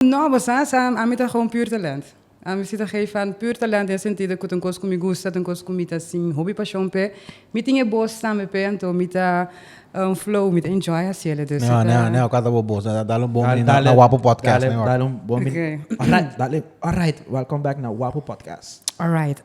No, bo sa, sa, ami ta gewoon puur talent. Ami si ta gei van puur talent den e sentido ku ta un kos ku mi gusta, ta un kos ku mi ta sin hopi pashon p'e. Mi tin e bos tambe p'e, anto mi ta flow, mi ta enjoy hasi el. Entonces si ta. Neo, neo, kua ta bo bos? Dale un bon bini na Wapo Podcast mehor. Dale, dale un bon bini. Dale. Alright, alright. Welcome back na Wapo Podcast. Alright.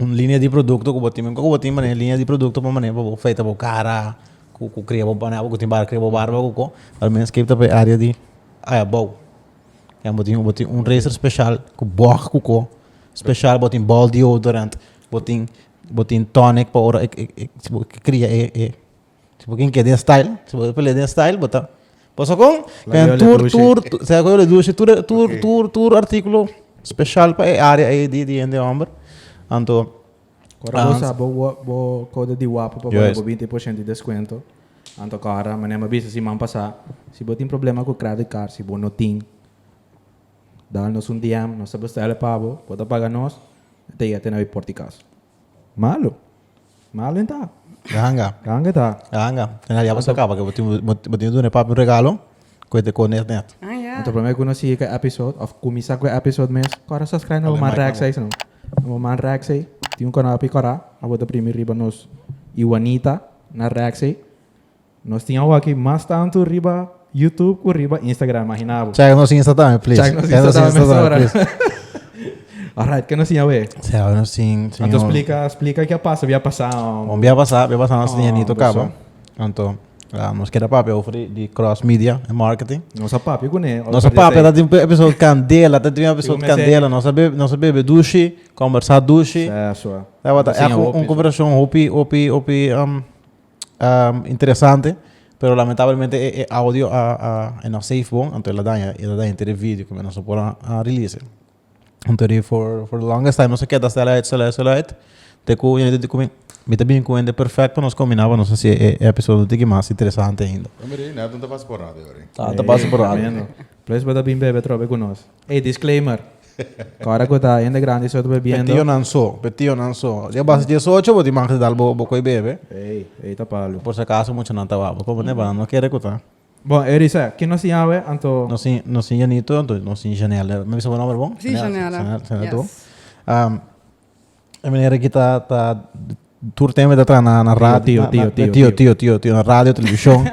un linea di produkto ku bo tin kiko bo tin manera linea di produkto pa manera pa bo afeita bo kara ku ku kria bo bana ku tin bar kria bo barba ku ko lo menos kepi ta p'e area di ayabou den bo tin bo tin un raser special ku bòg ku ko special bo tin ball deodorant bo tin bo tin tonic pa ora e e e si bo kria e e Si bo kin ke den style, si bo pele den style bo ta paso kon ken tur tur sa ko yo le dushi tur tur tur tur artikulo special pa e area ei di di hende hòmber anto Kora bo sa bo wa bo kòde di wapu pa bo bo binti por shenti di deskuento anto kòra manera mi a bisa siman pasá si bo tin problema ku kredit kard si bo no tin dal nos un DM nos ta bestèl'e pa bo bo ta paga nos te yete na wi pòrtikas malo. Mala den ta. Ganga. Ganga ta. Ganga. Kena diablo sa kaba ke bo tin bo tin duna e papi un regalo ku e ta kor net net. Ah ya. Anto prome ku no sigui ku e episode of kuminsa ku e episode mes kora subscribe na bo man Rex ei segun na bo man Rex ei tin un kanopi kora abo ta primi riba nos Iwanita na Rex ei Nos tin awaki mas tantu riba YouTube cu riba Instagram, imagina bo. Check nos Insta tambe, please. Check nos Insta tambe mesora. Alright, ke nos tin awe? Sea, awe nos tin señor. Anto splica, splica ke a pasa, bia pasa. Bon, bia pasa, bia pasa nos tin e nito caba. Anto, nos keda papia over di, di cross media en marketing. Nos a papia cune. Nos a papia, ta tin episode candela, ta tin episode candela. Nos a bebe, nos a bebe dushi, conversa dushi. Sea, sua. Sea, wata, e un conversacion hopi, hopi, hopi, um. interesante pero lamentablemente e audio a no safe bo anto el a daña el a daña te de video komo nos no por a release anto ri for for the longest time nos a keda stel uit stel uit stel uit te ku yende di komi mi ta bini ku hende perfect pa nos kombina pa nos hasi e episodio tiki mas interesante ainda. Mira ahí Neldon ta pasa por radio ahora. Ta pasa por radio. Please bo ta bin bebe atrobe ku nos. Ey disclaimer Kòrda ku ta hende grandi so ta bebiendo. Pe tionan so, pe tionan so. Dje bas djes ocho bo tin man di dal bo koe bebe. Ey, ey ta palu. Por si acaso muchanan ta wak bo komo neba no kere ku ta. Bo e risa, kin nos tin awe anto? Nos tin, nos tin Janito anto nos tin Janelle. Mi bisa bo nomber bon? Sí, Janelle. Janelle, Janelle, Janelle, yes. Janelle tu. E manera ki ta ta tur tempo mi ta traha na na ra- Tio, na- tio, na- tio, tio tio. tio tio tio na radio televishon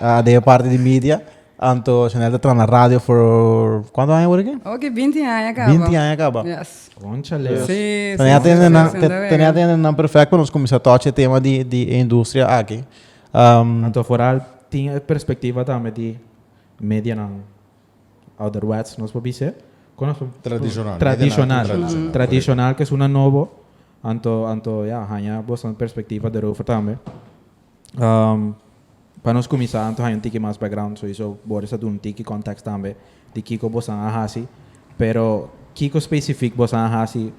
a den e parti di media anto Chanel ta traha na radio for kuantu aña wor aki? Oki binti aña kaba. Binti aña kaba. Yes. Cónchale. Si, si, Tene si, atende nan si, te- si, tene atende nan perfect pa nos kuminsá touch e tema di di e industria aki. Anto foral tin e perspectiva tambe di medianan. ouderwets nos por bis'e. Tradishonal. Tradishonal. Tradishonal ke suna nobo. Anto anto ya haña boston perspektiva derover tambe. Pa nos kuminsá anto haña un tiki mas background soisou Boris a duna un tiki context tambe di kiko bosnan a hasi pero kiko specific bosnan a hasi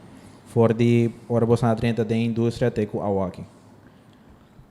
for di ora bosnan a drenta den industria te ku awoaki?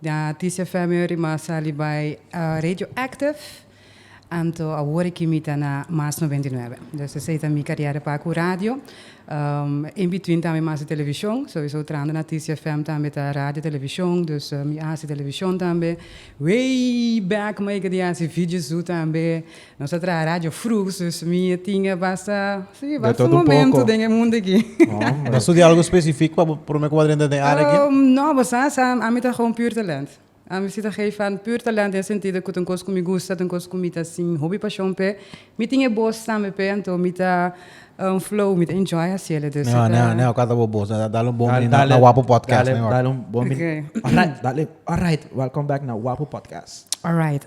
Na Tisia Febio Rima a sali bai Radioactive anto awor aki mi ta na Mas noventa i nuebe. Dus esei ta mi kariera pa ku radio. In between tambe mi hasi televishon, so esou trando na Tisia FM tambe ta radio televishon, dus mi a hasi televishon tambe. Way back mi a yega di hasi Viji Zú tambe, Nos a traha radio frug, dus mi a tinga basta, si, basta momento den e mundo aki. Hombre. Ta studia algo specific pa bo prome cuba drenta den area aki? No, bo sa, sa, ami ta gewoon puur talent. Ami si ta geef van puur talent den e sentido cu ta un cos cu mi gusta, ta un cos cu mi ta sin hopi pasion p'e. Mi tin e bos tambe p'e, anto mi ta flow, mi ta enjoy hacielo. Dus Neho, neho, neho cata bo bos. Na dal un bon mini na Wapo Podcast mehor. Dale, dale un bon mini. Alright, dale. Alright, welcome back na Wapo Podcast. Alright.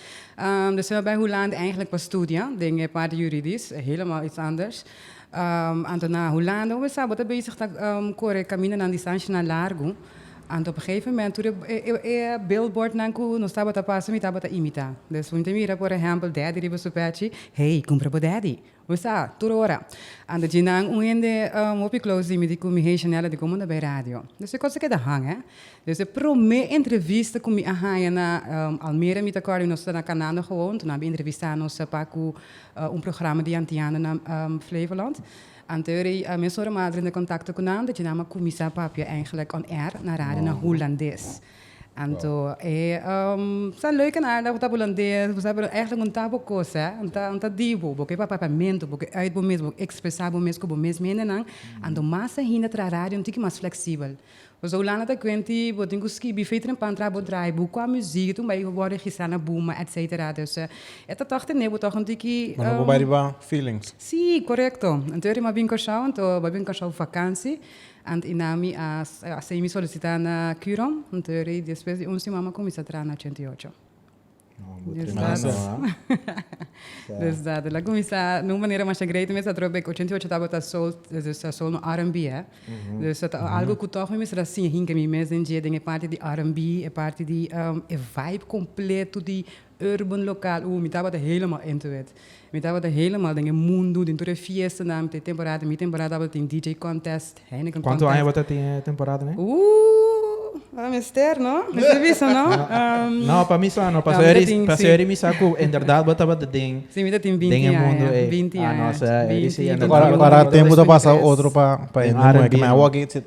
Ehm, dus me bai Huland eigenlijk pa studia, den e parti juridisch, helemaal iets anders. Ehm, anto na Huland, bo me sa, bo ta bezig ta ehm, corre caminanan distancianan largo. Anto op een gegeven moment, tur e, e, e, e billboardnan cu nos tabata pasa, mi tabata imita. Dus un te mira, por ejemplo, Daddy riba su pechi, hey, cumpra bo Daddy. Bo sa, tur ora a djina nan un hende um hopi close di mi di cu mi hey Janella di como ta bay radio. Des e cos aki ta hang eh. Des e prome entrevista cu mi a haya na um Almere mi ta acorda y nos ta na canando gewoon tur nan bin entrevista nos pa cu un programa di antiano na um Flevoland. Anteor ey a mesora Madre ta contacto cu nan ta djina nan a cuminsa papia eigenlijk on air na radio na Hulandes. Anto e ta leuk en aardig ku ta hulandes, ku sa, pero èklik un ta bo kos, hè. Un ta, un ta di bo, bo ke pa papamento, bo ke uit bo mes, bo ekspresá bo mes ku bo mes hendenan. Anto mas ainda tra radio un tiki mas fleksibel. Pasobra Hulanda ta kuent di bo tin ku skibi fei trempan tra bo draaiboek, kua muziek tin ku bai wòrdu registrá na Buma, etsetera. Dus e ta tòg tene bo tòg un tiki. Bo no por bai riba feelings. Sí, korekto. Anto e ri mabien Kòrsou, anto mabien Kòrsou vakansi. Ant i na mi a hasi mi solisitá na Curon, hunter i despues di un siman mi a kuminsá traha na ochenta i ocho. Desdat. El a kuminsá na un manera masha great mes atrò bek ochenta i ocho tabata sol, dus ta sol no RNB, eh. Dus ta algu ku tòg mi mester a siña hinka mi mes den dje den e parti di RNB, e parti di e vibe kompleto di Urban Local, uh, mi tabata helemaal into it. Mi tabata helemaal den e mundo, den tur e fiestanan, mi ta e temporada, mi temporada tabata tin DJ contest, Heineken contest. Cuanto aña bo ta tin e temporadane? Uh, ora mester, no? Mester bisa, no? Um. No, pa mi sa no, paso eri, paso eri mi sa cu inderdaad bo tabata den, Si, mi ta tin binti aña, den e mundo ey. binti Ah, no, aña, sa eri si, binti, inderdaad. Cuara, binti. cuara tempo ta pasa otro pa, pa hende moe, ke mij a wak e,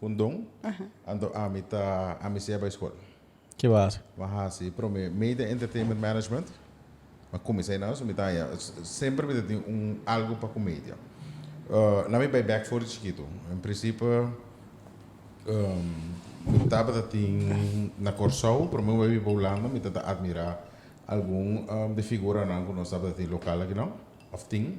Con Don, anto ami ta ami sea bay school. Ki bo a haci? Bo a haci prome Media Entertainment Management. Bo a cuminsa ahina, so mi ta haña, semper mi ta tin un algo pa cu media. Laat mi bay back for di chikito. In principe mi tabata tin na Corsou, prome mi bay biba Hulanda, mi ta ta admira algun di figuranan cu nos tabata tin local akinan, of tin.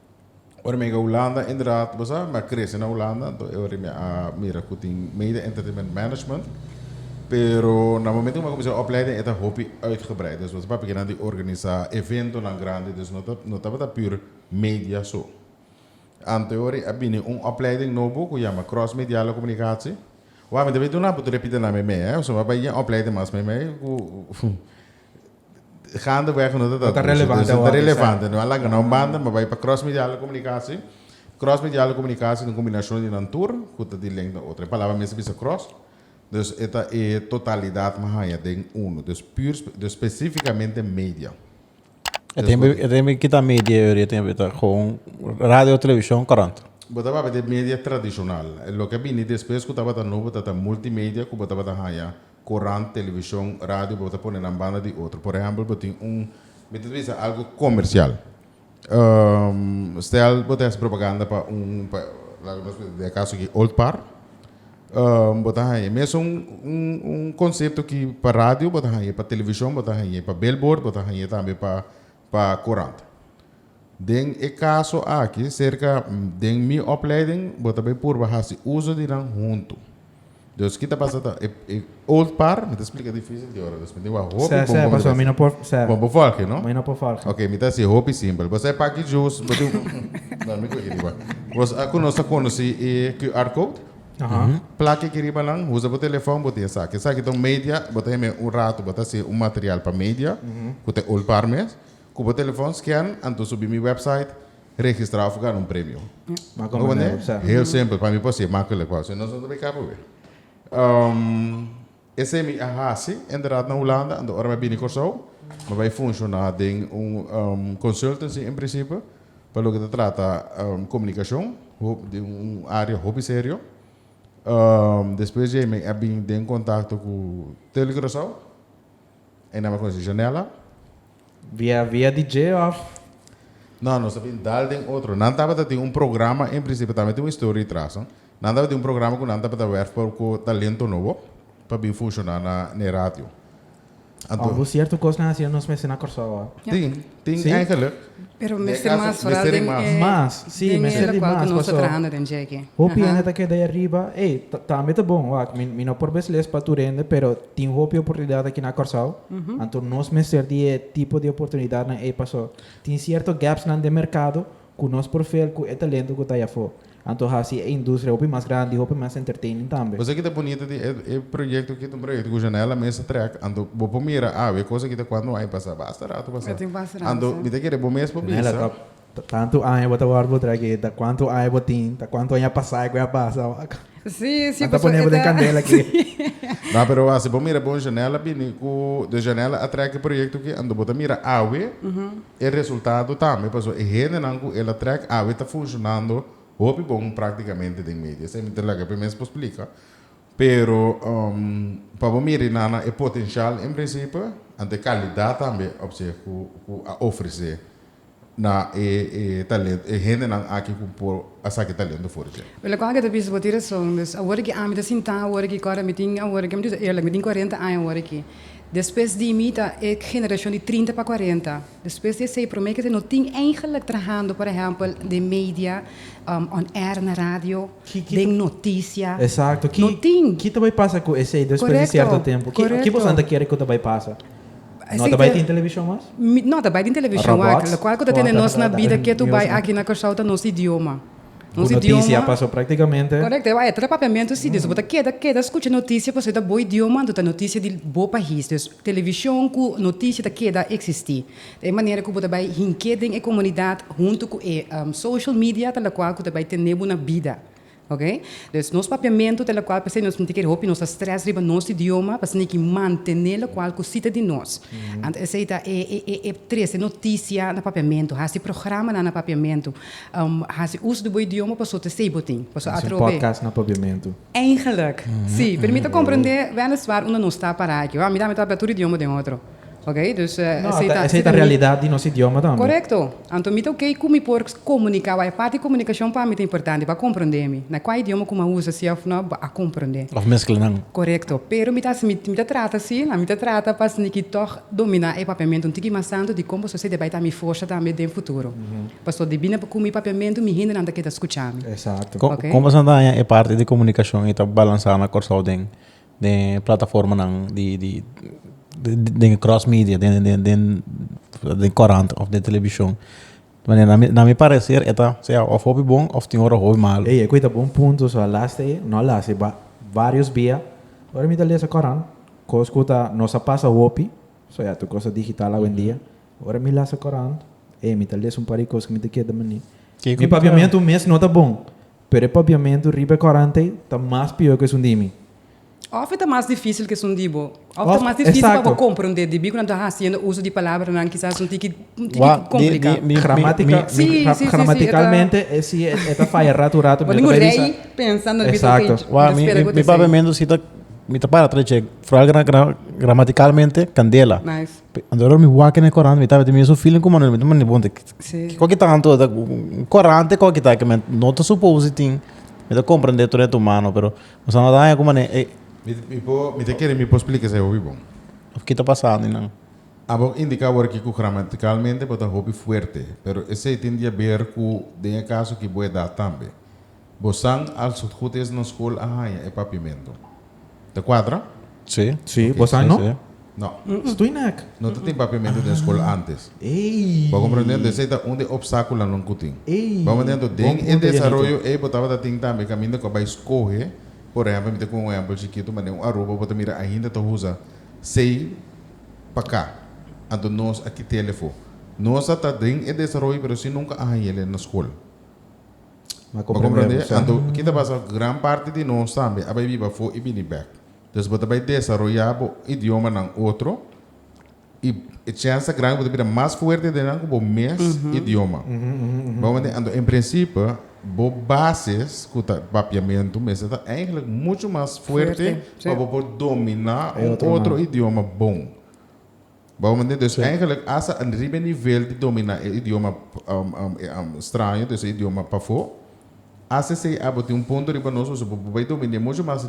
Ora mi a yega Hulanda inderdaad bo sa mi a krese na Hulanda anto e ora mi a mira ku tin Mede Entertainment Management. Pero na momento ku mi a kuminsá e opleiding e ta hopi uitgebreid. Dus mi ta papia ke nan di organisá eventonan grandi dus no ta no tabata pür media so. Anto e ora a bini un opleiding nobo ku yama Cross Mediale Comunicatie wak mi ta bay duna bo tur e pita na mi mei, mi a bay yen opleiding mas mei mei ku Gaandeweg no ta ta relevante awor. No ta relevante. No a laga na un banda, mi a bai pa Cross Mediale di Comunicatie. Cross Mediale di Comunicatie ta un combinacion di nan tur cu ta di lengua otro. E palabra mes ta bisa cross. Dus e ta e totalidad mi haya den uno. Dus puur, dus specificamente media. E ta mi kita media e oriente e ta gewoon radio, television, krant. Bo tabata di media tradicional. Loke a bini despues cu tabata nobo ta ta multimedia cu bo tabata haya Korant, televishon, radio bo ta pone nan banda di otro. Por ehèmpel bo tin un, mi ta bisa algu komersial. Stèl bo ta hasi propaganda pa un, pa laga nos mester di e kaso aki, Old Par. Bo ta haña mesun un, un konsepto ki pa radio bo ta haña, pa televishon bo ta haña, pa belbord bo ta haña tambe pa. pa kurant. Den e kaso aki, serka den mi opleiding bo ta bai purba hasi uso di nan huntu. Dus ki ta pasa ta e e old par, mi ta splika difisil di ora, dus mi tin wak hopi Sè, bon sè, bon mi ta paso mi no por, besi. sè, Bon, bo folge, no? mi no por folge. Ok, mi ta hasi hopi simpel. Bo sai paki jus, bo tin, no, mi kuchi riba. Bo sa ku nos ta konosi e QR code? Plaki ki riba nan, usa bo telefòn bo di esaki. Esaki ta un media, bo ta himi un ratu bo ta hasi un material pa media ku ta olpar mes. Ku bo telefòn skèn, anto subi mi wèpsait, registrá òf gana un premio. Maka manera, sa. Heel simpel, pa mi por si e makkelijk, wou. Si no, so no ta bin kaba awe. Esei mi a hasi inderdat na Hulanda, anto ora mi a bini Kòrsou mi bai funshoná den un consultancy en prinsipio pa loke ta trata komunikashon, un área hopi serio. Despues dje mi a bin den kontakto ku Telecuracao, ei nan mi a konosé Janella. Via via di dje of? No, nos a bin dal den otro. Nan tabata tin un programa, en principio tambe tin un historia tras no. Nan tabata tin un programa cu nan tabata werf pa cu talento nobo pa bin funciona na n'e radio. Anto. Hobo cierto cos nan hacia nos mester na Corsou awa. Tin, tin Sí? eigenlijk. Pero Den mester caso, mas vooral mester di den mas. eh, Mas, sí, den mester e di locual cu mas, nos ta paso trahando den dje aki. hopi Aha. hende ta keda ahi ariba. Ey, ta- tambe ta bon, wak, mi, mi no por besles pa tur hende, pero Tin hopi oportunidat aki na Kòrsou, anto nos mester di e tipo di oportunidatnan ei paso tin sierto gapsnan den merkado ku nos por fill ku e talento ku ta yafó, anto hasi e industria hopi mas grandi i hopi mas entertaining tambe. Kos aki ta bunita di e e proyekto aki ta un proyekto ku Janelle a mester trèk, anto bo por mira awe kos aki ta kuantu un aña pasá basta ratu pasá, anto mi ta kere bo mes por bisa. Ta cuanto aña bo ta worry bo trae ke ta cuanto aña bo tin ta cuanto aña pasa cu a pasa wak. Sí, sí. Nan ta pone bo den candela aki. Nah, pero asi bo mira bon Janelle a bini cu de Janelle a trae ki proyecto aki ando bo ta mira awe e resultado tambe paso e hendenan cu el a trae awe ta funcionando hopi bon practicamente den medio esei mi ta laga pe mes por splica pero pa bo miri nana e potencial en principe anto e calidad tambe opzicht cu a ofrece na e talento, e hendenan aki ku por a saki talento for dje. Wel aku ta bisa bo tin rason, dus awor aki ami ta sintá awor aki kòrda mi tin awor aki, mi ta bisa eerlik, mi tin kuarenta aña awor aki, despues di mi ta e generashon di trinta pa kuarenta, despues di esei promé kèn no tin eigenlik trahando por ehèmpel den media, on air na radio, den notisia, no tin. Ki ta bai pasa ku esei despues di sierto tempu? Ki boso nan ta kere ku ta bai pasa? No ta bai tin televishon mas? No ta bai tin televishon aki. Lokual ku ta tene nos na bida ke tu bai aki na Kòrsou ta nos idioma. Nos idioma. Korekto, e tra papiamentu si. Dus bo ta keda keda skucha notisia pasobra ta bo idioma, anto ta notisia di bo pais. Dus televishon ku notisia ta keda eksistí. E manera ku bo ta bai hink'é den e komunidat huntu ku e social media ta lokual ku ta bai tene bo na bida. Oke. Dus nos papiamentu ta locual p'esei nos mint'i kere hopi, nos ta stress riba nos idioma, p'esei n'e ki mantene locual cu sita di nos. Anto esei ta e e trece noticia na papiamentu, haci programanan na papiamentu, haci uso di bo idioma pasobra ta esei bo tin. Pasobra Haci un atrobe. podcast na papiamentu. Eigenlijk. Si. Pero mi ta comprende, weliswaar, unda nos ta para aki. Hoor, mi tambe ta habla tur idioma den otro. Ok, dus esei ta. No, esei ta realidat di nos idioma tambe. Korekto. Anto mi ta ok ku mi por komuniká wak. E parti di komunikashon pa mi ta importante, bo a komprondé mi. Na kua idioma ku mi a usa, si òf nò, bo a komprondé. Òf meskla nan. Korekto. Pero mi ta hasi, mi ta trata si, mi ta trata pa sniki tòg dominá e papiamentu un tiki mas tantu di kon pasobra esei ta bai ta mi forsa tambe den futuro. Pasobra di bini ku mi papiamentu mi hendenan ta keda skuchá mi. Kon pasobra nan ta haña e parti di komunikashon ei ta balansá na Kòrsou den den e plataformanan di den e cross media den korant of den telebishon na mi pareser e ta sea of hopi bon of tin ora hopi malu. Ey, equi ta bon punto, so a lasta ey, no a lasta ey, varios bia ora mi ta lesa korant, cos cu ta nos a pasa hopi, so ya tu cosa digital awendia, ora mi lasta korant, ey, mi ta lesa un par di cos cu mi ta keda mani, mi papiamento un mes no ta bon, Pero e papiamentu riba e kòrante ta mas pió ku esun di mi. Òf e ta mas difísil ku esun di bo. Òf ta mas difísil pa bo komprondé di mi ku nan ta hasiendo uso di palabranan kisas un tiki kompliká. Gramátika, sí, sí, sí, Gramatikalmente e sí e ta faya ratu ratu. Bo ningun rei pensa nan bisa así. Exacto. Wak, mi mi papiamentu sí ta mi ta para atrás dje foral gramatikalmente kandela. Nice. Anto mi wak den e kòrant mi tabata mi esun feeling ku Manuel mi ta manda bon te. Kiko ki ta anto ta un korante kiko ki ta ke men no ta supos di tin mi ta komprende tur den tumano pero mi sa no ta haña ku mane e Mi por mi ta kere mi por splika esei hopi bon. Of ki ta pasa di nan. A bo indiká awor aki ku gramatikalmente bo ta hopi fuerte pero esei tin di haber ku den e kaso ki bo edad tambe. Bo san al su hut es nos school a haña e papimento. Ta cuadra? Sí. Sí, bo san no? No. Stoei nec? No ta tin papimento den school antes. Bo a comprende anto esey ta un de opsaculonan cu tin. Bo manda anto den e desaroyo ey bo tabata tin tambe caminda cu a bay scoge, por ehempel mi ta cuba un ehempel chiquito ma den un Aruba bo ta mira ainda ta usa sey pa ca. Anto nos a kitele fo. Nos a ta den e desaroyo pero si nunca a haña ele na school. M'a komprendé anto kin ta pasa gran parti di nos tambe a bai biba afó i bini bèk. Entonces bo ta bai desaroyá bo idiomanan otro i e chènsa gran ku bo ta bira mas fuerte den nan ku bo mes idioma. Bo komprendé? Anto en prinsipio bo bases ku ta papiamentu mester ta eigelik muchu mas fuerte pa bo por dominá un otro idioma bon. Bo mende? Dus eigenlijk as a riba e nivel di domina e idioma straño, dus e idioma pafó, as esei abo tin un punto riba nos ku bo bai domin'é mucho mas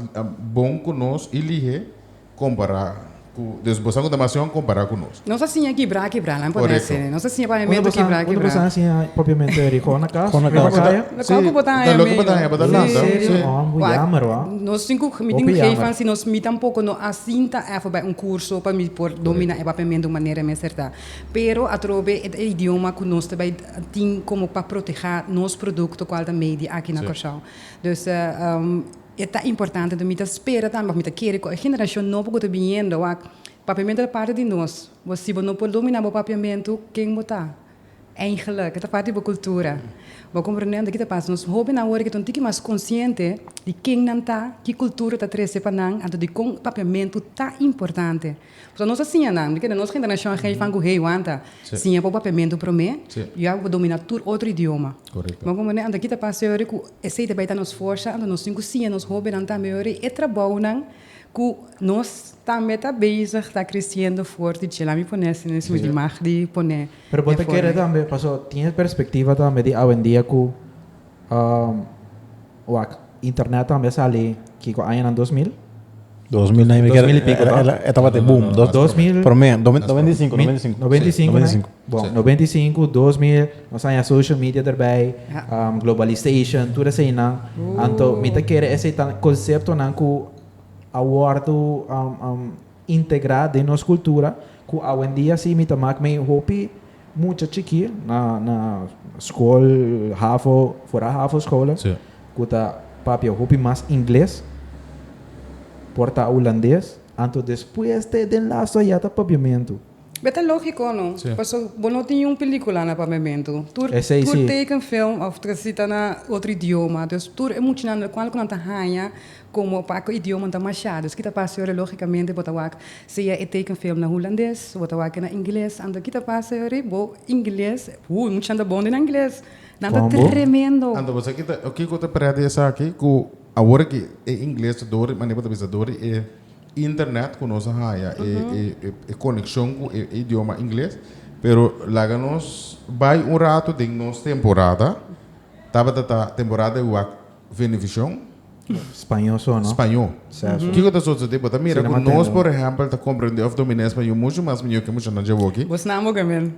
bon ku nos i lihé kompará ku, dus bo sa ku ta mas yòn kompará ku nos. Nos a siña kibrá a kibrá, nan por dese. Nos a siña pavementu kibrá a kibrá. Unda bo sa a siña paviamentu e ri Kona kas? Riba kaya? Kua ku bo ta haña mi? Loke bo ta haña bo ta lanta. Serio? Oh, bo jammer wak. Nos tin cu mi tin cu geefan si nos mi tampoco no a sinta evo bay un curso pa mi por domina e papiamento de un manera mester ta. Pero atrobe e idioma cu nos ta bay tin como pa proteha nos producto cual ta media aki na Corsou. Dus e ta importante enton mi ta spera tambe of mi ta kere cu e generacion nobo cu ta biniendo wak papiamento ta parti di nos. Bo si bo no por domina bo papiamento ken bo ta? Eigenlijk, e ta parti di bo kultura. Bo a komprende anto ki ta pasa. Nos hóbennan awor ke ta un tiki mas konsiente di ken nan ta, ki kultura ta trese pa nan, anto di kon papiamentu ta importante. Pasobra nos a siña nan, mi kere nos generashon a gei fangu hei wanta, siña bo papiamentu promé, luego bo domina tur otro idioma. Bo a komprende anto ki ta pasa yori ku esei ta bai ta nos forsa, anto nos tin ku siña nos hóbennan tambe yori e trabounan. Ku nos tambe ta bezig ta kresiendo fuerte dje la mi pone ese na e su imag di pone e forma. Pero bo ta kere tambe paso tin e perspektiva tambe di awendia ku wak internet tambe a sali kiko aña nan dos mil? Dos mil nai dos mil i piko to? E tabata e boom dos mil prome nobenta i sinku nobenta i sinku nobenta i sinku nai bon nobenta i sinku dos mil Nos a haña social media derbij, globalisation, tur eseinan. Anto mi ta kere esei ta conceptonan cu a wordo integra den nos cultura, cu awendia si mi ta mak mei hopi mucha chiki na school, hafo, fora hafo scholen, cu ta papia hopi mas ingles, por ta Hulandes, anto despues te den lastoa ya ta papiamento. Be ta lógiko, no? Pasobra bo no tin un pelíkula na Pamentu. Tur tekenfilm òf trasí ta na otro idioma. Dus tur e muchanan del kual ku nan ta haña komo pa ku e idiomanan ta mashá. Dus ki ta pasa yori? Lógikamente bo ta wak sea e tekenfilm na hulandes, bo ta wak e na ingles. Anto ki ta pasa yori? Bo ingles, hu, e muchanan ta bon den ingles. Nan ta tremendo. Anto bo sa kiko ta prea di esaki ku awor aki e ingles ta dor, e manera ku ta bisa dor e. Internet ku nos a haña e konekshon ku e idioma ingles. Pero laga nos bai un ratu den nos temporada. Tabata ta temporada di wak Venevisión. Spañó so no? Spañó. Kiko ta sosodé? Bo ta mira ku nos, por ehèmpel, ta komprendé òf domin'é spañó mushu mas mihó ke mushanan djawoki. Bo snamba oke men.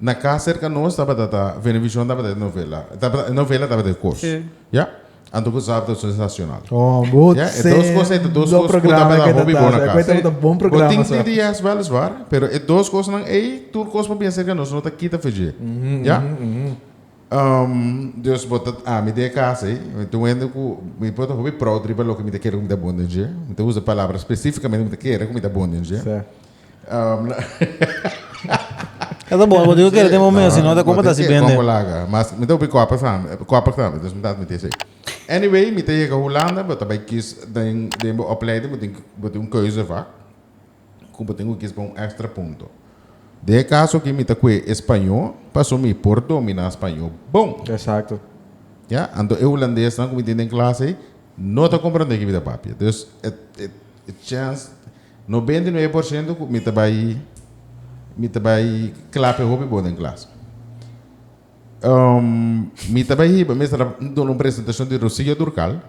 Na cas cerca nos tabata ta Venevisión tabata e novela tabata e novela tabata e cos Sí. ya anto cu Zap tabata un estacion nacional Oh, bo ya e dos cos e ta dos sendo cos cu programa tabata que hopi ta bon ta. na Cu cas ta ta bon bo programa tin sa. TDS wel is waar pero e dos cosnan ey tur cos pa bien cerca nos no ta kita fedje ya Ehm dus bo ta ami den e cas ey mi ta wende cu mi por ta hopi proud riba loke mi ta kere cu mi ta bon den dje mi ta usa palabra specificamente cu mi ta kere cu mi ta bon den dje. Sa. E ta bon, bo dico kere tin momento, si no ta como ta si bende. Congo laga. Mas mi ta hopi koper samen, e koper samen, dus mi ta admiti esei. Anyway, mi ta yega Hulanda, bo ta bai kies den, den bo opleiding, bo tin, bo tin un keuzevak, ku bo tin ku kies pa un extra punto. Den e kaso aki mi ta koe e spaño, paso mi por domina spaño bon. Exacto. Ya, anto e hulandesnan ku mi tin den klas ei, no ta komprende ki mi ta papia. Dus, e, e, e chance. Nobenta i nuebe por siento ku mi ta bai mi ta bai klape hopi bon den klas. Mi ta bai hiba mester a duna un presentashon di Rosillo Durcal.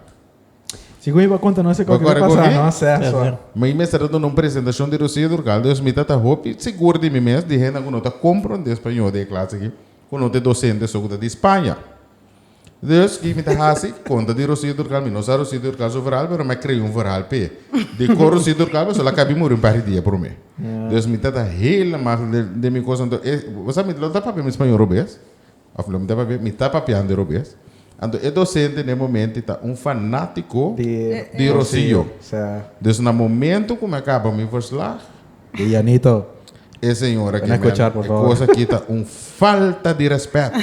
Si ku mi por konta nos e kos ku ta pasa nos sè so. Mi mester a duna un presentashon di Rosillo Durcal dus mi ta ta hopi sigur di mi mes di hendenan ku no ta kompronde Spañó den e klas aki ku no ta e dosente so ku ta di Spaña. Dus ki mi ta hasi? Konta di Rosy Durcal. Mi no sa Rosy Durcal su verhal, pero mi a krea un verhal p'e. Di kor Rosy Durcal pasobra el a kabi muri un par di dia promé. Dus mi ta ta heelemaal den mi kos. Anto e, bo sa mi lo ta papia mi spañol robes? Of lo mi ta papia? Mi ta papiando e robes. Anto e dosente na e momenti ta un fanatiko di Rosy. Dus na momento ku mi a kaba mi verslag. Di Janito. E señora aquí mi a e cosa aquí ta un falta di respeto.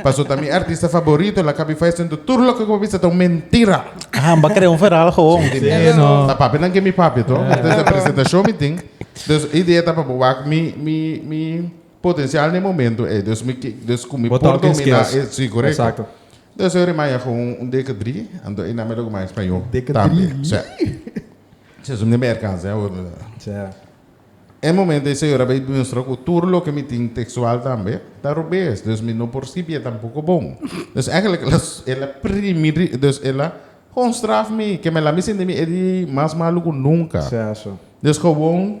Paso ta mi artista favorito la cabi fai sento tur loke cu bo bisa ta un mentira. Aha, bo a crea un feral gewoon. Sí, no. Ta papinan que mi papi to. Entonces e presentacion mi tin. Dus e idea ta pa bo wak mi mi mi potencial n'e momento ey. Dus mi ke dus cu mi por domina e. Sí, correcto. Exacto. Dus yo rimaya gewoon un deke drie anto e namen lo cu mai Spañol tambe. Deke drie? Sí. Seizoen di Merka, sè awor. Sè. E momento e señora bay demuestra cu tur loke mi tin textual tambe ta robes, dus mi no por scibié tampoco bon. Dus eigenlijk el a, el a primi ri, dus el a gewoon straf mi, ke mi a la mi sinti mi e di mas malu cu nunca. Sè, eso. Dus gewoon.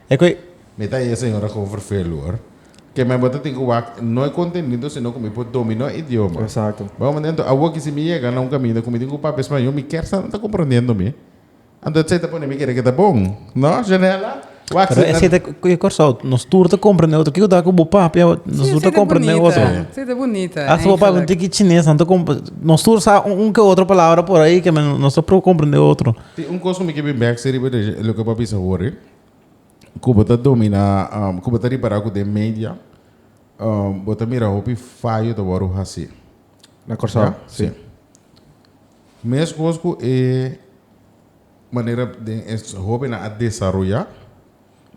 Equi. Mi ta e señora Govervellor ke mi bo ta tin ku wak no e kontenido sino ku mi por dominó e idioma. Exacto. Bo manera anto awo aki si mi yega na un kaminda ku mi tin ku papia spañol mi kèr sa nan ta komprondiendo mi. Anto esei ta pone mi kere ke ta bon. No, Janella? Wak Pero esei ta e Kòrsou nos tur ta komprende otro. Kiko ta ku bo papia nos tur ta komprende otro. Si, esei ta bunita. Esei ta bunita. Hasta bo papia un tiki chines nan ta komprende. Nos tur sa un ke otro palabra por ahi ke nos ta por komprende otro. Tin un kos ku mi ke bin bèksi riba de loke bo a bisa wòrri. ku bo ta dominá, um, ku bo ta ripará ku den media, um, bo ta mira hopi fayo ta wòrdu hasi. Na Kòrsou? Ja? Sí. Meskos ku e manera den es hóbennan a desaroyá,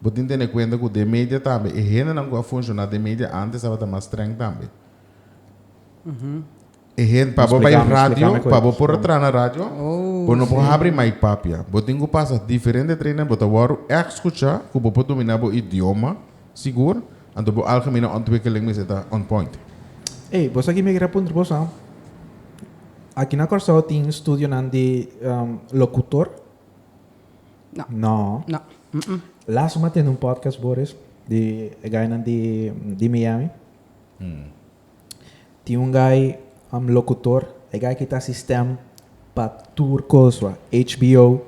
bo tin tene kuenta ku den media tambe e hendenan ku a funshoná den media antes tabata mas streng tambe. E hende pa bo bai radio, pa bo por a traha na radio, bo no por habri mai papia. Bo tin ku pasa diferente training, bo ta wòrdu èk skuchá ku bo por dominá bo idioma sigur, anto bo algemene ontwikkeling mester ta on point. Ey, bos aki mi a kere a puntra bos, ha. Aki na Kòrsou tin studionan di lokutor? No. No. No. Lasu mi a tende un podcast, Boris, di e gainan di Miami. Tin un guy am locutor e guy ki ta asistem pa tur cosua HBO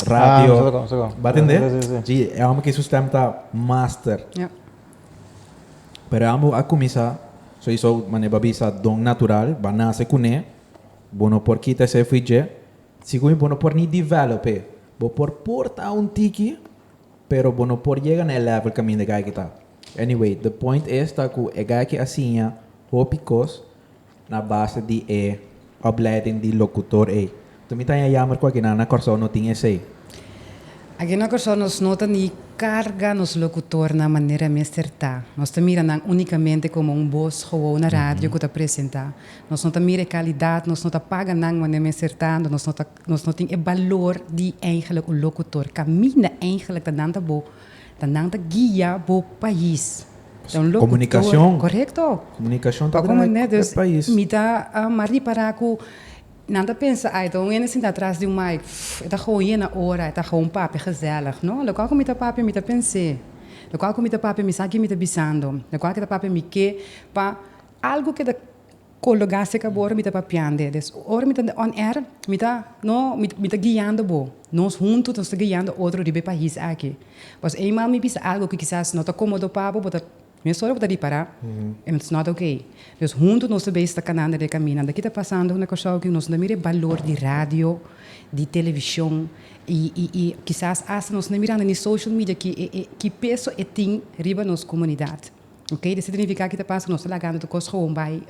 radio ba tende si e homber ki su stem ta master pero e homber a cuminsa so y so mane ba bisa don natural ba nace cune bo no por kita ese efui dje sico mi bo no por ni develop e bo por porta un tiki pero bo no por yega na e level caminda guy ki ta. Anyway, the point es ta cu e gayke a siña hopi cos na base di e opleiding di locutor ey. Tur mi ta haña jammer cu akinan na Corsou no tin esey. Aki na Corsou nos no ta ni carga nos locutornan manera mester ta. Nos ta mira nan unicamente como un boz gewoon na radio cu ta presenta. Nos no ta mira e calidad, nos no ta paga nan manera mester ta, anto nos no ta, nos no tin e balor di eingelijk un locutor. Camina eingelijk ta nan ta bo. Ta nan ta guia bo pais. Ta un locutor. Corecto. Comunicacion ta traha e pais. Mi ta mas ripara cu nan ta pensa, ay, ta un hende sinta atras di un mic, pff, e ta gewoon yena ora, e ta gewoon papia gezellig. No, locual cu mi ta papia mi ta pens'e, locual cu mi ta papia mi sa ki mi ta bisando, locual cu e ta papia mi ke, pa algu keda Colo gas se cabo ora mi ta papiande des ora mi ta on air mi ta no mi ta guiando bo nos hunto nos ta guiando otro riba e pais aki pasobra eenmaal mi bisa algo ki kisas no ta comodo pa bo bo ta mes ora bo ta ripara and it's not ok dus hunto nos ta bay canando den e caminda aki ta pasando na Curaçao aki nos no ta mira e balor di radio di television y y y kisas hasta nos no ta mirando ni social media ki e e ki peso e tin riba nos comunidad. Oke, di signifiká ki ta pasa ku nos ta lagando tur kos gewoon bai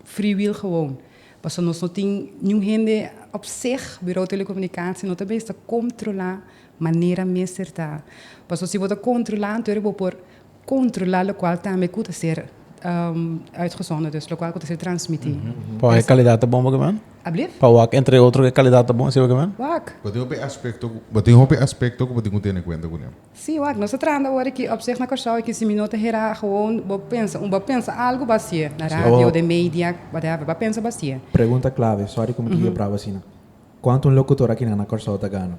friwil gewoon. Pasobra nos no tin niun hende op seg Birou Telekomunikasie no ta mester kontrolá manera mester ta. Pasobra si bo ta kontrolá anto bo por kontrolá lokual tambe ku ta ser uitgezonden, dus lokual ku ta ser transmití. Pa wak e kalidat ta bon, bo ke men? Alblieft? Pa wak entre otro e kalidat ta bon, esei bo ke men? Wak. Bo tin hopi aspekto, bo tin hopi aspekto ku bo tin ku tene kuenta kuné. Sí, wak, nos ta trahando awor aki op seg na Kòrsou aki, si mi no ta hera gewoon bo pensa, un bo pensa algu ba hasié na radio, den media, whatever, ba pensa ba hasié. Pregunta clave, sorry cu mi ta yebrabo asina, cuanto un locutor aki nan na Kòrsou ta gana?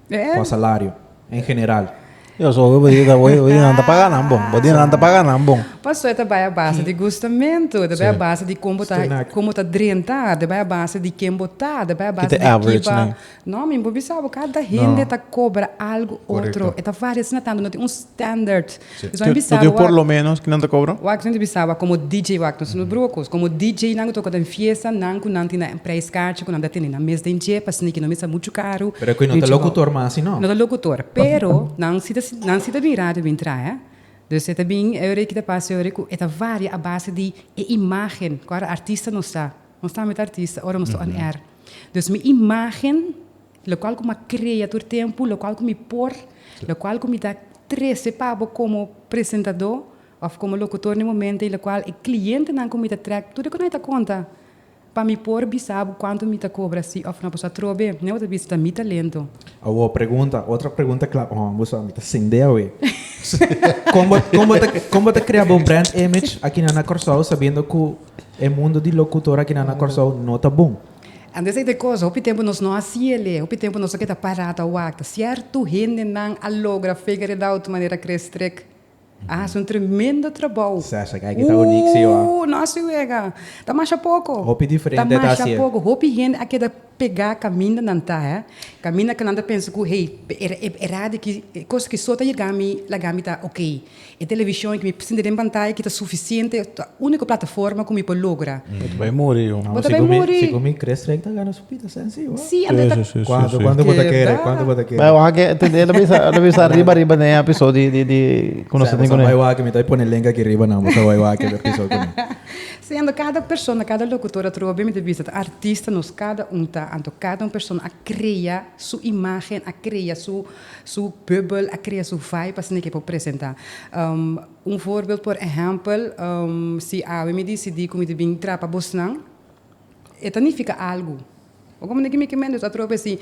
Cua salario, en general? Yo so cu bo di ta oye, oye, nan ta paga nan bon, bo di nan ta paga nan bon. Pasobra ta bai a base di gustamento, ta bai a base di con bo ta, con bo ta drenta, ta bai a base di ken bo ta, ta bai a base di ki ba. No mi bo bisa bo kada hende ta cobra algo otro e ta varia asina tando no tin un standard pues bo mi bisa bo wak por lo menos kinan ta cobra wak mi ta bisa bo como DJ wak no solo broer cos como DJ nan cu toca den fiesta nan cu nan tin nan prijs cachi cu nan ta tene nan mes den dje pa sneaky no misa mucho caro pero cu no ta locutor mas asi no no ta locutor pero nan si ta nan si ta bin radio bin traha dus e ta bin e ora aki ta pasa e ora cu e ta varia a base di e imagen cu ar artista nos ta nos tambe ta artista ora nos ta on air. Dus mi imágen, lokual ku mi a krea tur tempu, lokual ku mi por, lokual ku mi ta trese pa bo komo presentadó òf komo lokutor den e momentu ei, lokual e klientenan ku mi ta trèk, tur e kunan e ta konta pa mi por bisa bo kuantu mi ta kobra si òf no. Pasobra atrobe nan bo ta bisa ta mi talento. Awo pregunta, otra pregunta kla, oh bo sa mi ta sende awe. Kon bo kon bo ta kon bo ta krea bo brand image akina na Kòrsou sabiendo ku E mundo di locutor aki nan na Corsou no ta bon. Antes ey ta cos hopi tempo nos no haci ele, hopi tempo nos ta keda para ta wak. Cierto hende nan a logra figure it out manera Chris Trick a haci un tremendo trabou. Sesek aki ta unic si ho. Ooh no haci wega. Ta masha poco. Hopi diferente ta haci. Ta masha poco. Hopi hende a keda. Pegá kamindanan ta e kaminda ku nan ta pensa ku, hey, e radio aki, e kos aki so ta yega mi laga mi ta ok. E televishon aki, mi sinti den pantaya aki ta sufisiente, ta úniko plataforma ku mi por logra. Bo ta bai muri yu. Bo ta bai muri. Si ku mi kres trèk ta gana su pita sensi yu. Sí, anto ta. Sí, sí, sí, sí. Kuantu, kuantu bo ta kere, kuantu bo ta kere. Bai wak e, te lo bisa, lo bisa riba riba den e episod di, di, di ku nos ta tin ku nan. Sa bai wak e, mi ta bai pone link aki riba nan, bo sa bai wak e episod ku nan. Siendo cada persona, cada locutor a trova bimete bisa ta artista, nos cada un ta, anto cada un persona a crea su imagen, a crea su su bubbel, a crea su vibe asina ke por presenta. Un voorbeeld por ehempel, si awe mi dicidi cu mi ta bin trapa bosnan, e ta nifica algo. Oko manera ki mi ke Mendez a trobe si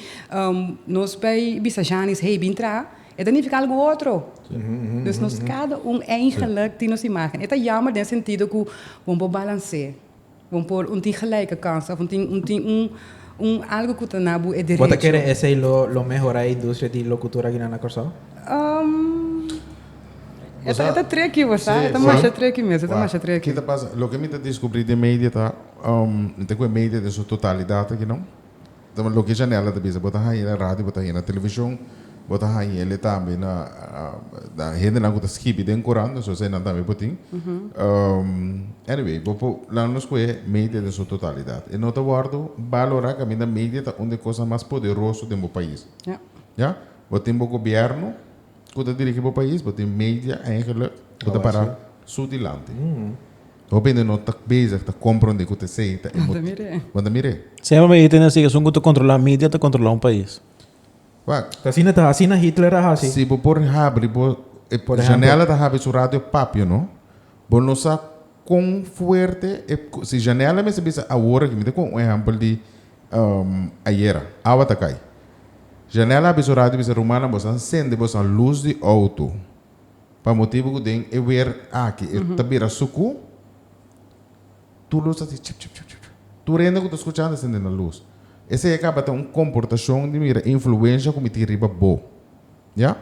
nos bai bisa Janis, hey bin traha, e ta nifiká algu otro. Dus nos kada un eigenlijk tin nos imágen. E ta yammer den e sentido ku bo por balans'é, bo por un tin gelijke kans òf un tin un tin un un algu ku ta na bo e derecho. Bo ta kere esei lo lo mehorá e industria di lokutur aki nan na Kòrsou? E ta e ta triki, bo sa, e ta masha triki mes, e ta masha triki. Ki ta pasa, loke mi ta diskubrí den media ta, N ta cu e media den su totalidad aki no. Dama loke Janella ta bisa, bo ta haña na radio, bo ta haña na television, bo ta haña el e tambe na na hendenan cu ta skibi den curant, nos esey nan tambe bo tin. Anyway, bo por laga nos cu e media den su totalidad. E no ta wordo balora, caminda media ta un den cosnan mas poderoso den bo pais. Ya. Bo tin bo gobierno cu ta dirigi bo pais, bo tin media eigenlijk cu ta para su dilanti. Hopi hende no ta bezig ta komprondé ku ta esei ta e motibu. Bon ta mir'é. Semper mi tin esei esun ku ta kontrolá media ta kontrolá un pais. Wak. Ta asina ta asina Hitler a hasi. Si bo por habri bo e janela ta habri su radio papia no bo no sa kon fuerte e si janela mester bisa awor aki mi ta kohe un ehempel di ayera awa ta kai janela habri su radio bisa rumannan bo sa sende bo sa luz di outo. Pa motibu cu den e weer aki e ta bira sucu, tur lus ta haci chip, chip, chip, chip, chip. Tur hende cu ta scucha anda sindi na lus. Esey a caba ta un comportacion di mira influencia cu mi tin riba bo. Ya?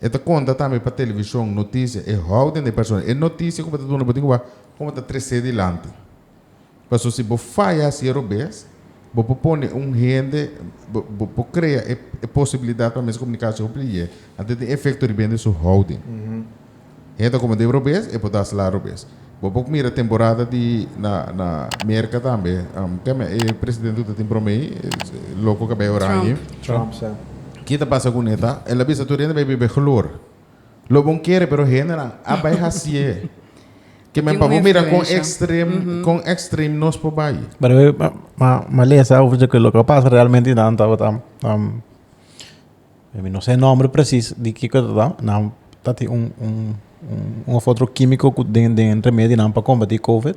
E ta conta tambe pa television, noticia, e hou den di e persona. E noticia cu bo ta duna bo tin cu bay como ta trece dilanti. Paso si bo faya siero bes, bo por pone un hende, bo por crea e posibilidad pa mester comunica su hopi leyé, anto tin efecto riba hende su houding. Hende ta comende robes, e por ta sla robes. Bo por mira temporada di na Merca tambe, keme e presidente cu ta tin broma ey, loco cabey oranje. Trump. Trump, sa. Ki ta pasa cu un heta? El a bisa tur hende bay biba e gloria. Lo bon kere pero hendenan a bai hasié. Ke men pa bo mira kon ekstrem kon ekstrem nos por bai. Pero e ma ma lesa over de ke loke a pasa realmente nan tabata mi no se nomber presis di kiko tata nan ta tin un un un of otro kimiko ku den den remedinan pa kombati covid.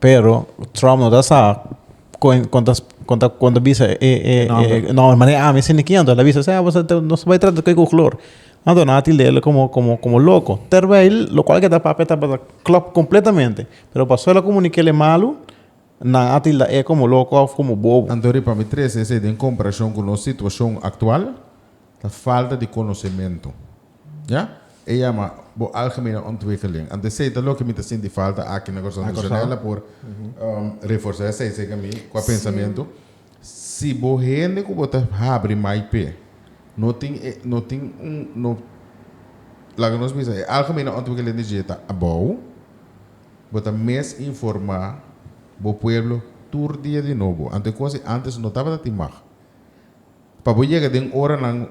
Pero Trump no ta sa kon kon kon ta kon ta bisa e e e nomber mane ami sende kin anto lo bisa se abo sete nos bai trata ku koklor anto nan a tildele komo komo komo loko terwijl lo kual ke ta papia tabata klòp kompletamente pero pa solo komunikele malu nan a tilda e komo loko of komo bobo. Anto riba mi trese esei den komparashon ku nos situashon aktual. Ta falta di konosementu. Ya? E yama bo algemene ontwikkeling. Ant esei ta loke mi ta sinti falta aki na Kòrsou. Misionèr Kòrsou. la por reforsa esei, segun mi, kua pensamentu. Si bo hende ku bo ta habri mai p'e no tin e, no tin un, no, laga nos bisa e algemene ontwikkeling di dje ta abou, bo ta mes informá bo pueblo tur dia di nobo. Ante kos di antes no tabata tin mag. Pa bo yega den oranan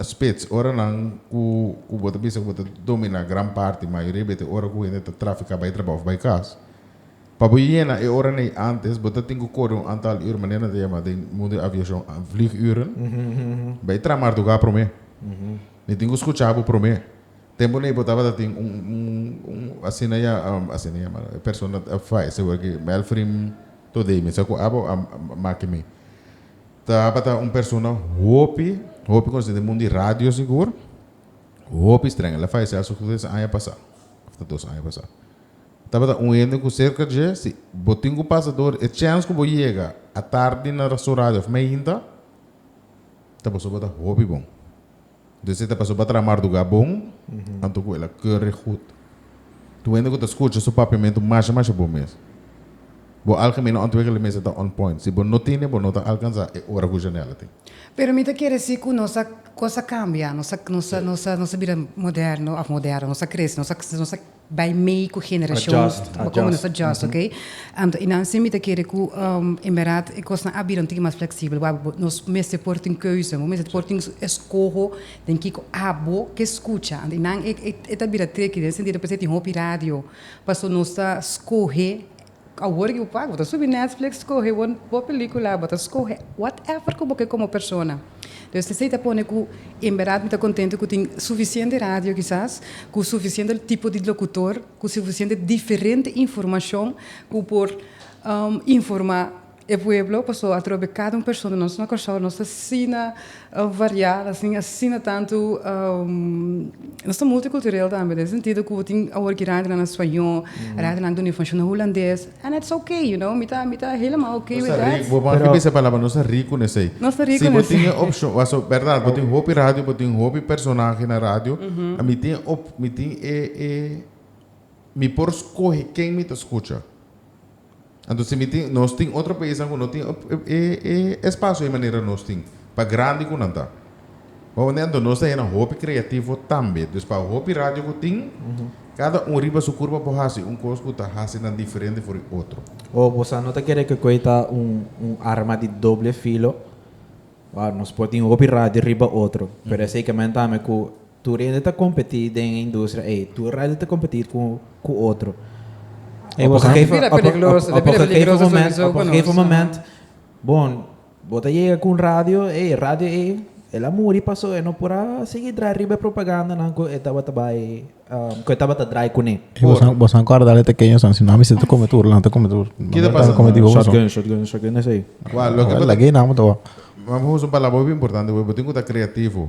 spits, oranan ku bo ta bisa ku bo ta dominá gran parti, mayoria bes te ora ku hende ta trafiká bai trabou òf bai kas. Pa bo yena e oranan ei ántes, bo ta tin ku kore un antal ur, manera nan ta yama den mundu di aviashon vlieguren. Bai tra martugá promé. Mi tin ku skuchá bo promé. Tempunan ei bo tabata tin un un asina ya asina yama e persona a fayese, melfrim todei mi sa ku abo a make mi. Tabata un persona hopi hopi conoci den mundo di radio sigur, hopi streng. El a fayece hace cu tres aña pasa, of ta dos aña pasa. Tabata un hende cu cerca dje, si bo tin cu pasa door, e chance cu bo yega atardi na su radio of meinta, ta boso bo ta hopi bon. Dus e ta pasó pa traha mardugá bon, anto ku el a kere gud. Tur hende ku ta skucha su papiamentu masha masha bon mes. Bo algemeno antwegele mester ta on point. Si bo no tene, bo no ta alkansá e ora ku Janelle a tin. Pero mi ta kere si ku nos a, kos a kambia, nos a, nos a, nos a bira moderno, òf moderno, nos a krese, nos a, nos a. Bai mei ku generashon. Adjust, adjust. Bo komo nos adjust, ok? Anto, i nan sin mi ta kere ku, en bèrdat, e kosnan a bira un tiki mas fleksibel. Wak bo, nos mester por tin keuznan. Bo mester por tin eskoho den kiko abo ke skucha. Anto, i nan e ta bira triki den e sentido, parse tin hopi radio. Pasobra nos ta skohe Awor di bo paka, bo ta subi Netflix skohe bo bo pelikula, bo ta skohe whatever ku bo ke komo persona. Entonces esei ta pone ku en berdad mi ta kontento ku tin sufisiente radio kisas, ku sufisiente tipo di lokutor, ku sufisiente diferente informashon ku por informa. E pueblo paso atrobe cada un persona nos na Corsou nos ta sina variado asina asina tanto nos ta multicultureel tambe den sentido cu tin awor ki rante nan na Spañol rante nan duna informacion na Hulandes and its ok you know mi ta mi ta helemaal ok with that. Bo por aki bisa e palabra nos ta rico n'esey Nos ta rico si bo tin n'esey. e opcion paso berdad bo tin hopi radio bo tin hopi personahe na radio a mi tin e op mi tin e e mi por scoge ken mi ta scucha. Anto si mi tin, nos tin otro paisnan ku no tin e espasio ei manera nos tin, pa grandi ku nan ta. Bo hopi? Anto nos ta hende hopi kreativo tambe. Dus pa hopi radio ku tin, kada un riba su kurpa por hasi un kos ku ta hasi nan diferente for di otro. O bo sa no ta kere ku ei ta un un arma di doble filo? Nos por tin hopi radio riba otro, pero esei ke men ta ami ku Tur hende ta kompetí den e industria ei. Tur radio ta kompetí ku ku otro. Ei bo sa. Pida peligroso, ta pida peligroso su miso ku nos. Op e gegeven moment, bo bo ta yega ku un radio ei, e radio ei el a muri pasó e no por a sigui drai riba e propagandanan ku e tabata bai ku e tabata drai kuné. Bo sa kòrda al e tekeñonan, si no a mester ta kometi tur, nan ta kometi tur. Ki ta pasa? Shotgun, shotgun, shotgun esei. Lag'é nan bo ta wak. Bo usa un palabra hopi importante, bo tin ku ta kreativo.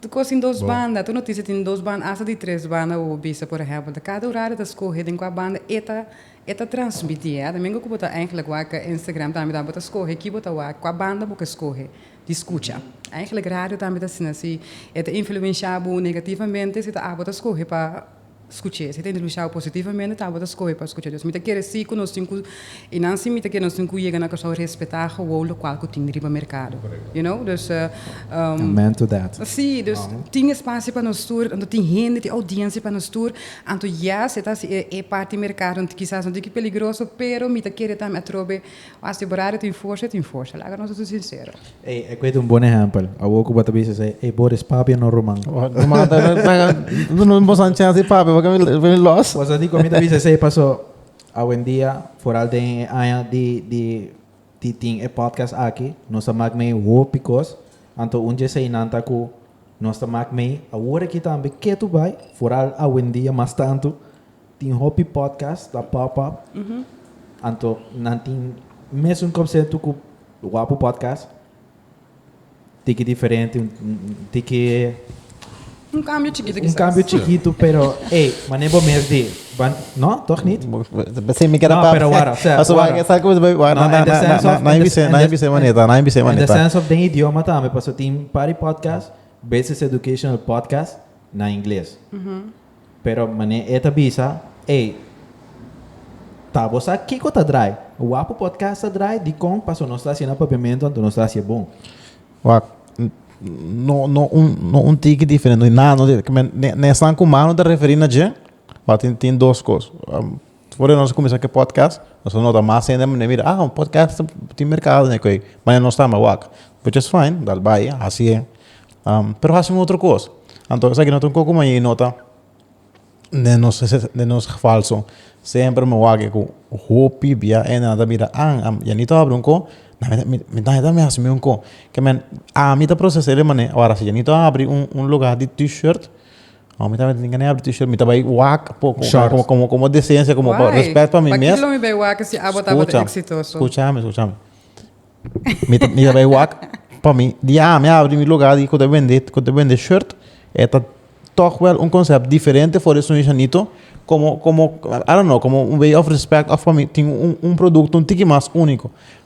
Tu kos tin dos banda, tur notisia tin dos banda asta di tres banda bo bo bisa por ehèmpel ta kada orario ta skohe den kua banda e ta e ta transmiti e domingo ku bo ta eigenlijk waka Instagram tambe ta bo ta skohe ki bo ta wak kua banda bo ke skohe di skucha eigenlijk radio tambe ta asina si e ta influensha bo negativamente si ta a bo ta skohe pa Skuché. Si ta introdusi awa positivamente, tabata skohe pa skucha Dios. Mi ta kere si ku nos tin ku, i nan si mi ta kere nos tin ku yega na Kòrsou respetá gowou lokual ku tin riba merkado. You know? Dus, um. Amen to that. Sí, dus tin espasio pa nos tur, anto tin hende, tin oudiensia pa nos tur. Anto yes, e ta hasi e parti merkado, kisas no tin ki peligroso, pero mi ta kere tambe atrobe. Pa asegurá di tin forsa, e tin forsa. Laga nos ta su sinsero. Ey, e cueto un bon ehempel. Awor cu bo ta bisa esey, ey Boris, papia no ruman. Ruman ta na traga, no no boso un chance di papia porque mi mi los. Bo sa di cu mi ta bisa esey paso awendia, foral den e aña di di di tin e podcast aki, nos a mak mei hopi cos. Anto un djesey nan ta cu nos ta mak mei awor aki tambe ketu bay, foral awendia mas tanto. Tin hopi podcast ta pop up anto nan tin mesun konsepto ku Wapu Podcast tiki diferente tiki Un kambio chikitu kisas. Un kambio chikitu pero ey mané bo mes di ban no toch nit? Sí, mi keda pa. Pero wara, sea, Paso wara. Sa ku be wara na na na na ibise na ibise maneta na ibise maneta. In the sense of den idioma tambe paso tin pari podcast basis educational podcast na ingles. Pero mane e ta bisa, Ey, ta bo sa kico ta draai? Wapu podcast ta draai? Dicon? Paso nos ta haci na papiamento anto nos ta haci e bon. Waak, no, no un, no un tiki diferente, no hay nada, ne, ne esnan cu Manu ta referi na dje, waak, tin, tin dos cos. Despues di nos a cuminsa cu e podcast nos a nota mas hende a manda mira ah un podcast tin mercado ne cu e ma ya no sta mas wak which is fine dal bay haci e pero haci un otro cos anto esaki no ta un coco ma e nota den nos den nos falso semper mi wak cu hopi bia hende nan ta mira ah yani ta habra un co na mi mi mi ta mi haci un co kimen ami ta procese de manera wara si yani ta habri un un loga di t-shirt. Oh, mi ta mester tinga ne'abri t-shirt, mi ta bai wak po con Short. como, como, como decencia, como pa Why? respect pa mi mes. Pakilo mi bai wak si abo tabata Scucha, exitoso. scucha mi, scucha mi. Mi ta, mi ta bai wak pa mi. Di a mi abri mi lugar di cu ta bende, cu ta bende shirt, e ta toch wel un concept diferente for di su Shanito, como, como, I don't know, como un way of respect of pa mi tin un, un producto un tiki mas unico.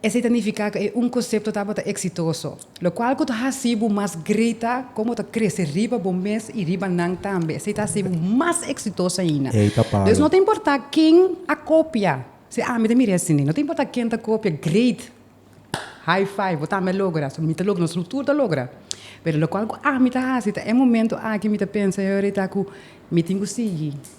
Esei ta nifiká ku e un konsepto tabata eksitoso, lokual ku ta hasi bo mas grita kon bo ta krese riba bo mes i riba nan tambe. Esei ta hasi bo mas eksitoso ainda. Ei ta palo. Entonces no ta importá ken a kopia, si ami ta mira e asina, no ta importá ken ta kopia, great, high five, bo tambe a logra, so mi ta logra, nos ruptur ta logra. Pero lokual ku ami ta hasi ta e momentu aki mi ta pensa, Heureka, ku mi tin ku sigui.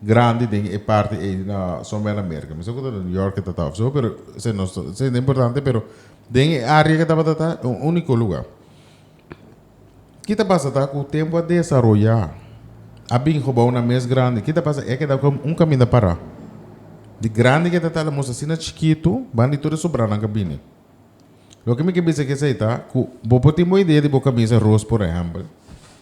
grandi den e parti ei na somber na Merka mi sa ku ta New York e tata of so pero esei no ta esei no ta importante pero den e area ke tabata ta e un uniko luga ki ta pasa ta ku tempu a desaroya a bin hobou nan mes grandi ki ta pasa e a keda kom un kaminda para di grandi ke ta ta lamus asina chikitu ban di tur e sobranan ke a bini loke mi ke bisa ke esei ta ku bo por tin bo idea di bo kamisa ros por ehempel.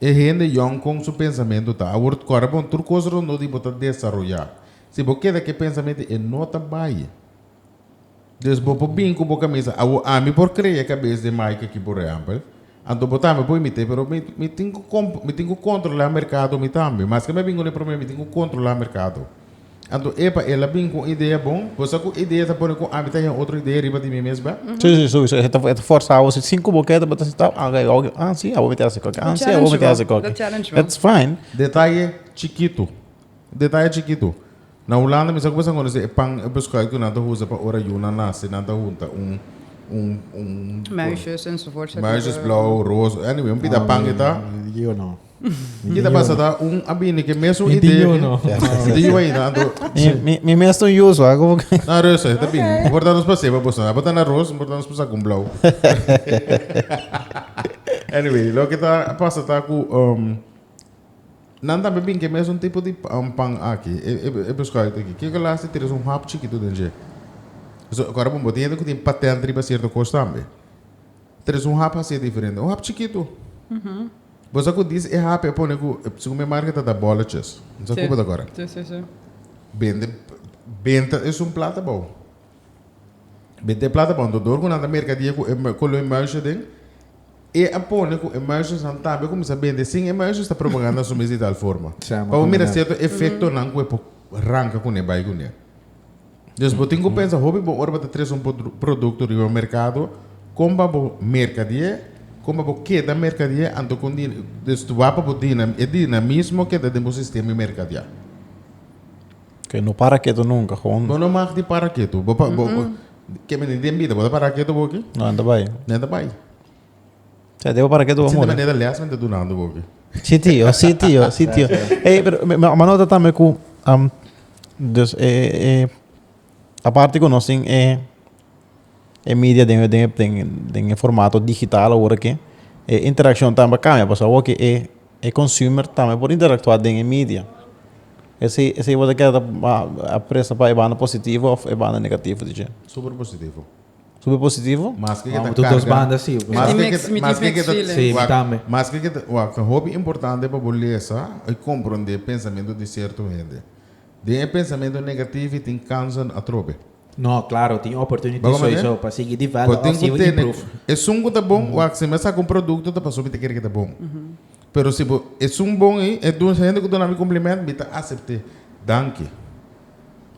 E hende yòn kon su pensamentu ta awor ta kòrè bon tur kos rondó di bo ta desaroyá. Si bo keda ku e pensamentu ei no ta bai. Des bo por bin ku bo kamisa awor ami por krea kabes den Mike aki por ehèmpel. Anto bo tambe por imit'é pero mi mi tin ku mi tin ku kontrolá merkado mi tambe. Maske mi a bin un e promé mi tin ku kontrolá merkado. Anto epa el a bin cu un idea bon. Bo sa cu e idea ta pone cu ami ta haya otro idea riba di mi mes ba? Sí, sí, sowieso. E ta forsa bo si sin cu bo keda bo ta sentau, ah, ok, ok, ah, sí, abo mi ta hasi esaki, ah, sí, abo mi ta hasi esaki. Bo challenge bo. That's fine. Detaye chikitu, detaye chikitu. Na Hulanda mi sa cu bo sa conoce e pan, e beschuit cu nan ta usa pa ora yu nan nace, nan ta hunta un, un, un, Muisjes enzovoort. muisjesblauw, roos, anyway, un pita pan e ta. Yo no. Mi kita basa ta un a bini ke mesun Mi idee. tiño, no. Mi tiño ahí, na anto. Mi, mi, mi mes ton yuso, ah, como que... Na roos, eh, ta bini. Importa nos pa seba boso. Apa ta na roos, importa nos pa sa con blauw. Anyway, lo ke ta pasa ta ku um, nan tambe bin ke mesun tipo di pa- um, pan aki. E, e, e pescado te ki. Ke ke las ti tres un hap chikitu den dje. So, kora bon, bo tin hende ku tin patent riba cierto kos tambe. Tres un hap hacié diferente. Un hap chikitu. Bo sa cu dies e hap e pone cu, segun mi marca ta ta boloches. Mi sa cu bo ta cora. Bende benta esun plata bao. Benta e plata bao. Enton dor cu nan ta mercadia cu e cu lo e muisje den, e a pone cu e muisjes nan tambe a cuminsa bende sin e muisjes ta propaganda su mes di tal forma. Pa bo mira cierto efectonan cu e por ranca cune, bay cune. Dus bo tin ku pensa hopi bo ora bo ta tres un produkto riba merkado, kon pa bo merkadié, kon pa bo keda merkadié, anto kon di, dus tu wak pa bo e dinamismo keda den bo sistema di merkadiá. Ke no para ketu nunka, gewoon. Bo no mag di para ketu. Bo pa, bo, bo, ke men di den bida, bo ta para ketu boki? No, nan ta bai. Nan ta bai. Sea, debo para que tú Sin de manera les men te dunando bo aquí. Sí, tío, sí, tío, sí, tío. Hey, pero me, me, me nota también cu, um, dus, eh, eh, aparte cu nos in, eh, eh, media den, den, den, den eh, formato digital ahora que, eh, interacción también cambia, pues ahora que eh, eh, consumer también por interactuar den eh, media. Ese, ese iba de que, ah, apresa pa eh, banda positivo of eh, banda negativo, DJ. Super positivo. Super positivo. Maske ke ta karga. Di dos banda si. Maske ke ta. Si, mi tambe. Maske ke ta. Wak, ta hopi importante pa bo lesa i komprondé pensamentu di sierto hende. Den e pensamentu negativo tin kansen atrobe. No, klaro, tin oportuniti soisou pa sigui develop òf sigui improve. Bo tin ku tene esun ku ta bon, wak, si mi a saka un produkto ta pasobra mi ta kere ku ta bon. Pero si bo esun bon ei, e duna, hende ku duna mi komplemento, mi ta asept'é. Danki.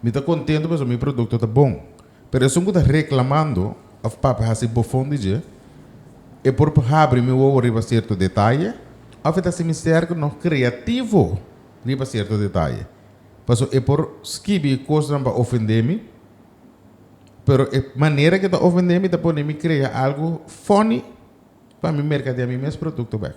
Mi ta kontentu pasobra mi produkto ta bon. Pero esun ku ta reklamando òf papia hasi bofon di dje, e por habri mi wowo riba sierto detaye òf e ta simister ku nos kreativo riba sierto detaye. Pasobra e por skibi kosnan pa ofendé mi, pero e manera ku e ta ofendé mi ta pone mi krea algu fòni pa mi merkadea mi mes produkto bèk.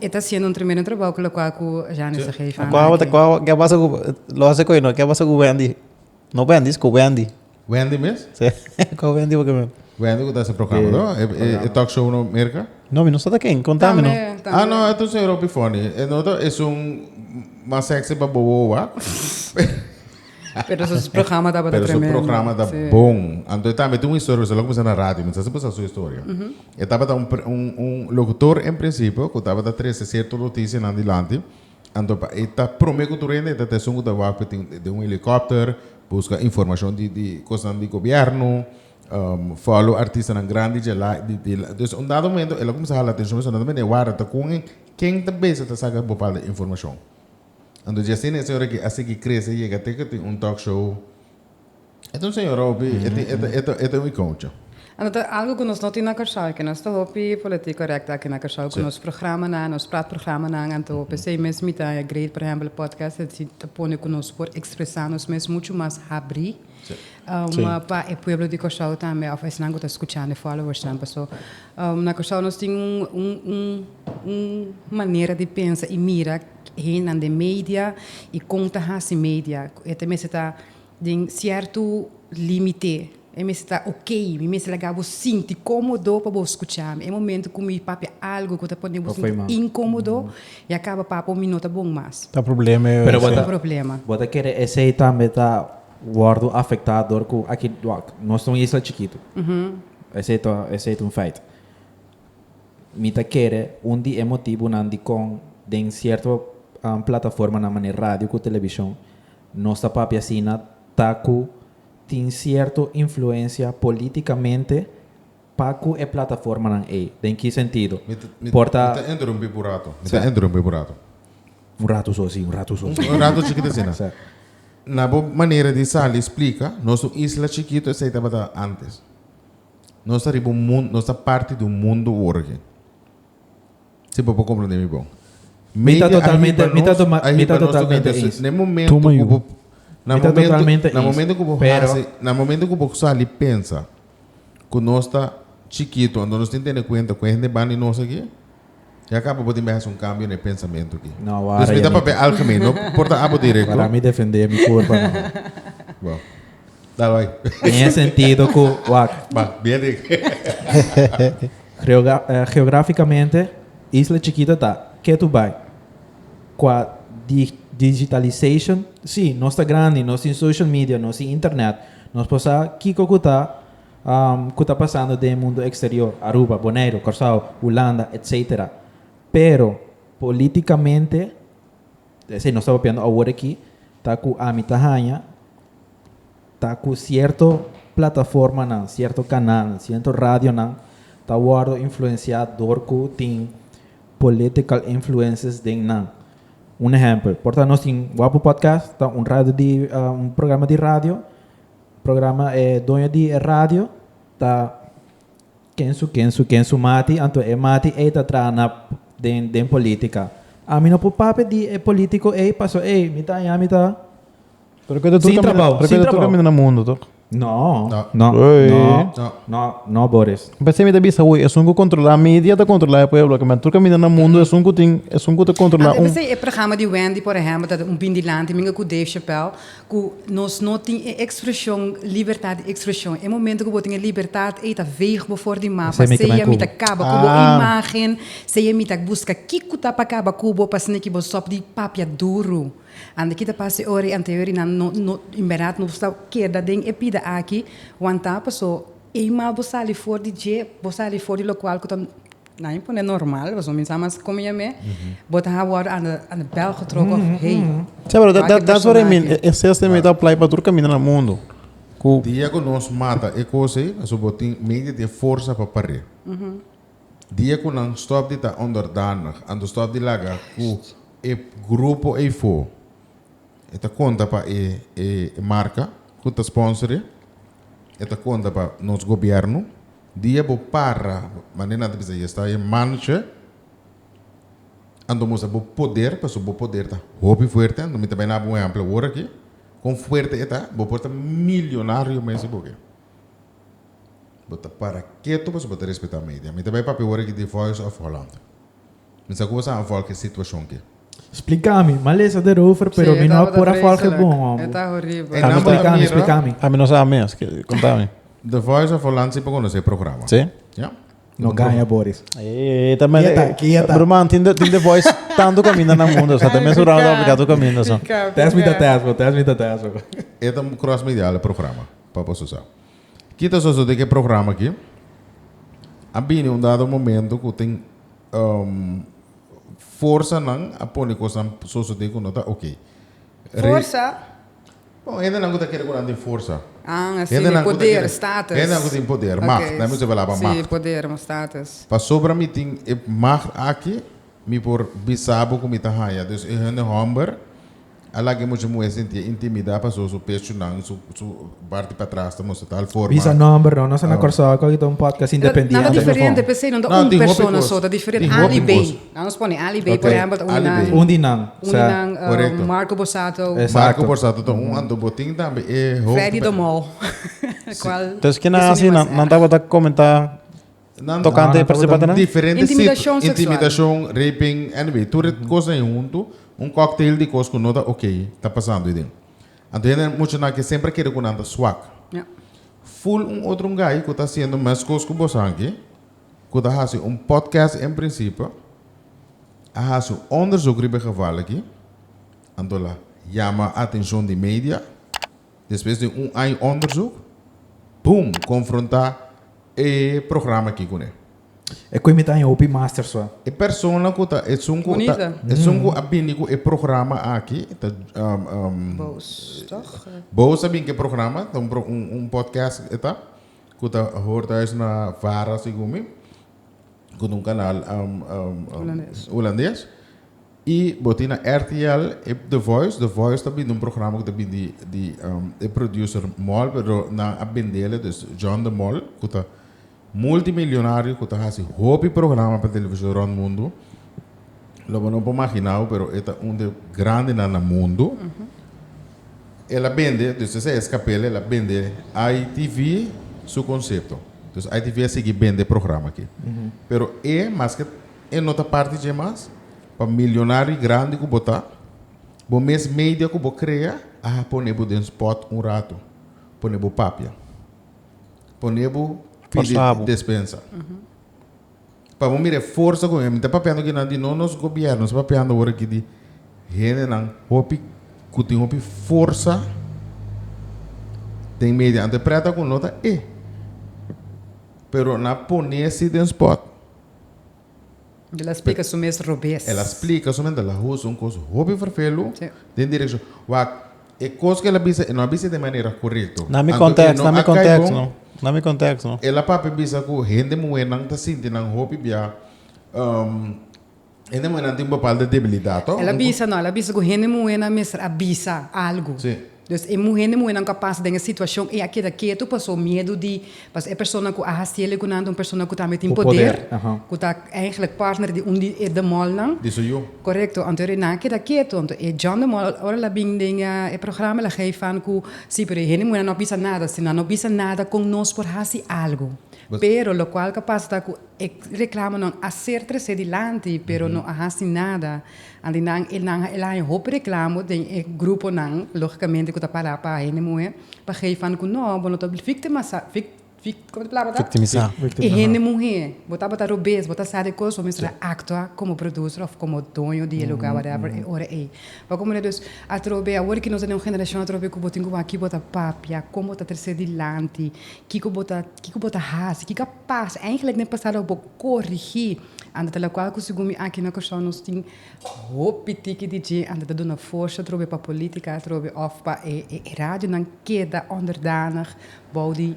E ta haciendo un tremendo trabao cu locual cu Janes a geven a Aki. Cu a pasa cu, lo hace cu eno, cu a pasa cu Wendy, no Bendis, cu Wendy. Wendy mes? Si, cu a Wendy pakier men. Wendy cu ta hasi proclamador, e talk show no Merca? No, mi no sa ta ken, conta mi no. Tambe, tambe. Ah no, entonces e hopi funny. E no ta esun mas sexy pa bobo owa. Pero su programa tabata tremendo. Pero su programa ta bon. Anto e tambe tin un historia, pasobra lo kuminsá na radio, mi ta hasi basa su historia. E tabata un, un lokutor en prinsipio ku tabata trese sierto notisianan dilanti, anto pa e ta promé ku tur hende, e ta ta esun ku ta wak tin den un helikòpter, buska informashon di, di kosnan di gobièrnu, fòlo artistanan grandi djelá, di la. Entonces un dado momento el a kuminsá hala atenshon, pasobra nan ta mira e wak ta kohen ken ta bisa ta saka bopalda informashon. Anto dje asina e señora aki a sigui krese yega te ku tin un talk show. E ta un señora hopi, e tin, e ta, e ta, e ta un ikoucha. Anto ta algu ku nos no tin na Kòrsou aki. Nos ta hopi politik kòrèkta aki na Kòrsou ku nos programanan, nos pratprogramanan anto hopi asei mes mita e great por ehèmpel e podcast e tin ta pone ku nos por ekspresá nos mes muchu mas habrí pa e pueblo di Kòrsou tambe òf esnan ku ta skuchando e followersnan. Paso na Kòrsou nos tin un, un, un manera di pensa i mira. Hennan den media y con ta haci media. E ta mester ta den cierto limite. E mester ta ok. Mi mester laga bo sinti comodo pa bo scucha mi. E momento cu mi papia algo cu ta pone bo sinti incomodo, ya caba papo, mi no ta bon mas. Ta problema e. Pero bo ta. Ta problema. Bo ta kere esey tambe ta wordo afecta door cu aki nos ta un isla chikito. Esey ta un feit. Mi ta kere un di e motibunan dikon den sierto plataformanan manera radio ku televishon nos ta papia asina ta ku tin sierto influensia politikamente pa ku e plataformanan ei. Den ki sentido? Por ta. Mi ta interumpí por un rato, mi ta interumpí por un rato. Un rato so así, un rato so así. Un rato chikit asina. Sa. Na bo manera di sali splika, nos un isla chikito esei tabata antes. Nos ta riba un mundo, nos ta parti di un mundo worge. Si bo por comprende mi bon. Mi ta totalmente, mi ta toma, mi ta totalmente eens. Na momento ku bo, na momento, na momento ku bo hasi, na momento ku bo sali pensa ku nos ta chikito, anto nos tin tene kuenta ku e hende bandi nos aki, Ya kaba bo tin bihas un kambio na e pensamentu aki. No, wara ya mi tin. Disculpa mi ta papia algemen, no por ta abo direkto. Wara mi defendé mi kurpa nomás. Bo. Dal bai. Den e sentido ku, wak. Ba, bien dik. Geogra, geografikamente isla chikito ta, ke tu bai? Kua di, digitalization, sí, nos ta grandi, nos tin social media, nos tin internet, nos por sa kiko ku ta Cu ta pasando den e mundo exterior, Aruba, Boneiru, Corsao, Hulanda, etc. Pero politicamente, esey nos ta papiando awor aki, ta cu ami ta haya, ta cu cierto plataformanan, cierto canalnan, cierto radionan ta wordo influencia door cu tin political influences den nan. Un ehempel, por ta nos tin Wapu Podcast, ta un radio di, un programa di radio, Programa e doño di e radio ta ken su ken su ken su mati anto e mati ey ta traha na den den politica ami no por papia di e politico ey paso ey mi ta aña mi ta Pero keda tur sin caminda, trabao pero sin keda tur trabao caminda na mundo tok. no No. no Ey. no No. no no Boris Mi pensé mi ta bisa hui esun cu controla media ta controla e pueblo caminda tur caminda na mundo esun cu tin esun cu ta controla Anto e un. pensei e programa di Wendy por ehempel ta un bin dilanti minga cu Dave Chapelle Ku nos no tin e ekspreshon libertat di ekspreshon. E momento ku bo tin e libertat ei ta veeg bo for di mapa. Seja mi ta kaba ku bo imagen, seja mi ta buska kiko ta pa kaba ku bo pa sneaky bo sop di papia duru. Ande kita pasa e ora ei ante hori nan no no en berdad nos ta keda den e pida aki wan ta paso eenmaal bo sali for di dje bo sali for di lokual ku ta Na mi pone normal pasobra mi sa mas komo yam'e bo ta habo wòrdu anda anda bèl getrok òf hey. Sa pero da da so remi e sestem e ta apply pa tur kaminda na mundu ku Dia ku nos mata e kos ei pasobra bo tin media di e forsa pa par'é. Dia ku nan stòp di ta onderdanig ando stòp di laga ku e grupo ei for e ta konta pa e e marka ku ta sponsor'é e ta konta pa nos gobièrnu Dia bo para manera nan ta bisa, y esta e mancha, anto mustra bo poder, pasobra bo poder ta hopi fuerte. Anto mi ta bai naba un ehempel awor aki, con fuerte e ta, bo por ta milionario mes si bo ke. Bo ta para ketu pasobra bo ta respeta media. Mi ta bai papia awor aki di Voice of Holland. Mi sa cu bo sa a volg e situacion aki. Spliká mi, malesa der over pero mi no a por a volg e bon homber. Ami spliká mi, spliká mi. Ami no sa mes, kontá mi. The Voice of Holland si por konosé e programa. Sí? Ja. No gaña Boris. Ey, ta mende. Kieta, kieta. Bruman, tin tin The Voice tantu kaminda na mundo, sa ta mesu round apliká tur kaminda so. Pika, pika. Test me ta test bo, test me ta test bo. E ta un cross medial e programa, pa boso sa. Ki ta sosodé ku e programa akí? A bini un dado momento ku tin. Forsanan a pone cosnan sosode cu no ta ok. Forsa? No, hendenan cu ta kere cu nan tin forsa. Ah, así, Hendenan cu ta poder, kere, status. hendenan cu tin poder, Ok, macht, nan mester bala pa Sí, macht. poder, mo status. Pasobra mi tin e macht aki, mi por bisa bo cu mi ta haya. Dus e hende homber, Al laga e mucha muhé sintié intimidá pasó su pechunan, su su parti patras ta mustra tal forma. Bisa nòmber no, nos ta na Kòrsou ku aki ta un podcast independiente. Nada diferente p'esei, no ta un persona so, ta diferente. Al i Bey, la nos pone Al i Bey por ehèmpel ta un di nan. Un di nan, sa. Un di nan. Korekto. Marco Borsato. Esatto. Marco Borsato ta un anto. Bo tin tambe e hoofd. Freddy Domou, kual. Entonces kinan hasi nan tabata komentá. Tokante e participante nan. Intimidashon, raping, anyway tur e kos na e huntu un cocktail di kos ku no ta ok ta pasando ayi den. Anto hende mucha nan ke semper a kere ku nan ta swak. Ful un otro ngai ku ta hasiendo mes kos ku boso aki ku ta hasi un podcast en principio a hasi onderzoek riba e geval aki anto la yama atenshon di media. Despues di un aña onderzoek, boom, confronta e programa aki cune. E cu e mita aña hopi masters wa. E persona cu ta esun cu ta esun cu a bini cu e programa aki ta Boos toch? Boos a bini cu e programa ta un pro un podcast e ta cu ta hoor thuis na vara si cu mi cu ta un canal Hulandes. Y bo tin na RTL e The Voice, The Voice ta bindi un programa cu ta bindi di e producer Mol, pero nan a bendele, dus John de Mol, cu ta multimilionario, cu ta haci hopi programa pa television rond mundo, lo bo no por maginabo, pero e ta un de grandenan na mundo. El a bende, dus esa escapele, el a bende ITV su concepto. Dus ITV a sigui bende e programa aki. Pero e, mas ke E no ta parti dje mas. Pa milionario y grandi cu bo ta, bo mes media cu bo crea a ha pone bo den spot un rato, pone bo papia, pone bo pidi despensa. Pa bo mira e forsa cu hende ta papiando aquí nan di no nos gobierno, sta papiando awor aki di hendenan hopi cu tin hopi forsa den media. Ante preta cu no ta e, pero nan a pone si den spot. El a splica su mes robes. El a splica su mes ta lahusa un cos hopi vervelu den direccion. Wak, e cos cu el a bisa, e no a bisa di e manera corecto. Na mi context, na mi context no. Na mi context no. El a papia bisa cu hende muhernan ta sinti nan hopi bia. Hende muhenan tin un bapalta debilidat to? El a bisa, no, el a bisa ku hende muhenan mester a bisa algu. Si. Dus e mu, hende muhenan ku a pasa den e situashon ei a keda ketu pasobra miedu di, pasobra e persona ku a hasiel e kunan ta un persona ku tambe tin Ku poder, poder, aha. ku ta eigentlik partner di un di e demòlnan. Di su yu. Korekto. Anto e nan a keda ketu. Anto e John de Mol, ora el a bin den e programa el a geef an ku, si, pero e hende muhenan no a bisa nada. Si nan no bisa nada, kon nos por hasi algu? Bes. Pero lokual ta pasa ta ku. E reclamonan a ser trece dilanti pero no a haci nada. Andinan e nan a elhaña hopi reclamo den e gruponan, logicamente cu ta para pa hende muhe, pa gei fan cu no, bo no ta victima sa, vic, vic, como ta e palabra ta? Victimisa. E hende muhe, bo tabata robes, bo ta sa di e cos, bo mester a actua como producer of como doño di e lugar, whatever, e ora ey. Pa como no? Dus, atrobe, awor ki nos ta den un generacion atrobe cu bo tin cu wak aki bo ta papia, con bo ta trece dilanti, kico bo ta. Kiko bo ta hasi? Kiko a pasa? Eigenlijk den pasado a bo korigí anda ta lokual ku segun mi aki na Kòrsou nos tin hopi tiki di dje anda ta duna forsa atrobe pa polítika atrobe òf pa e radionan keda ònderdanig bou di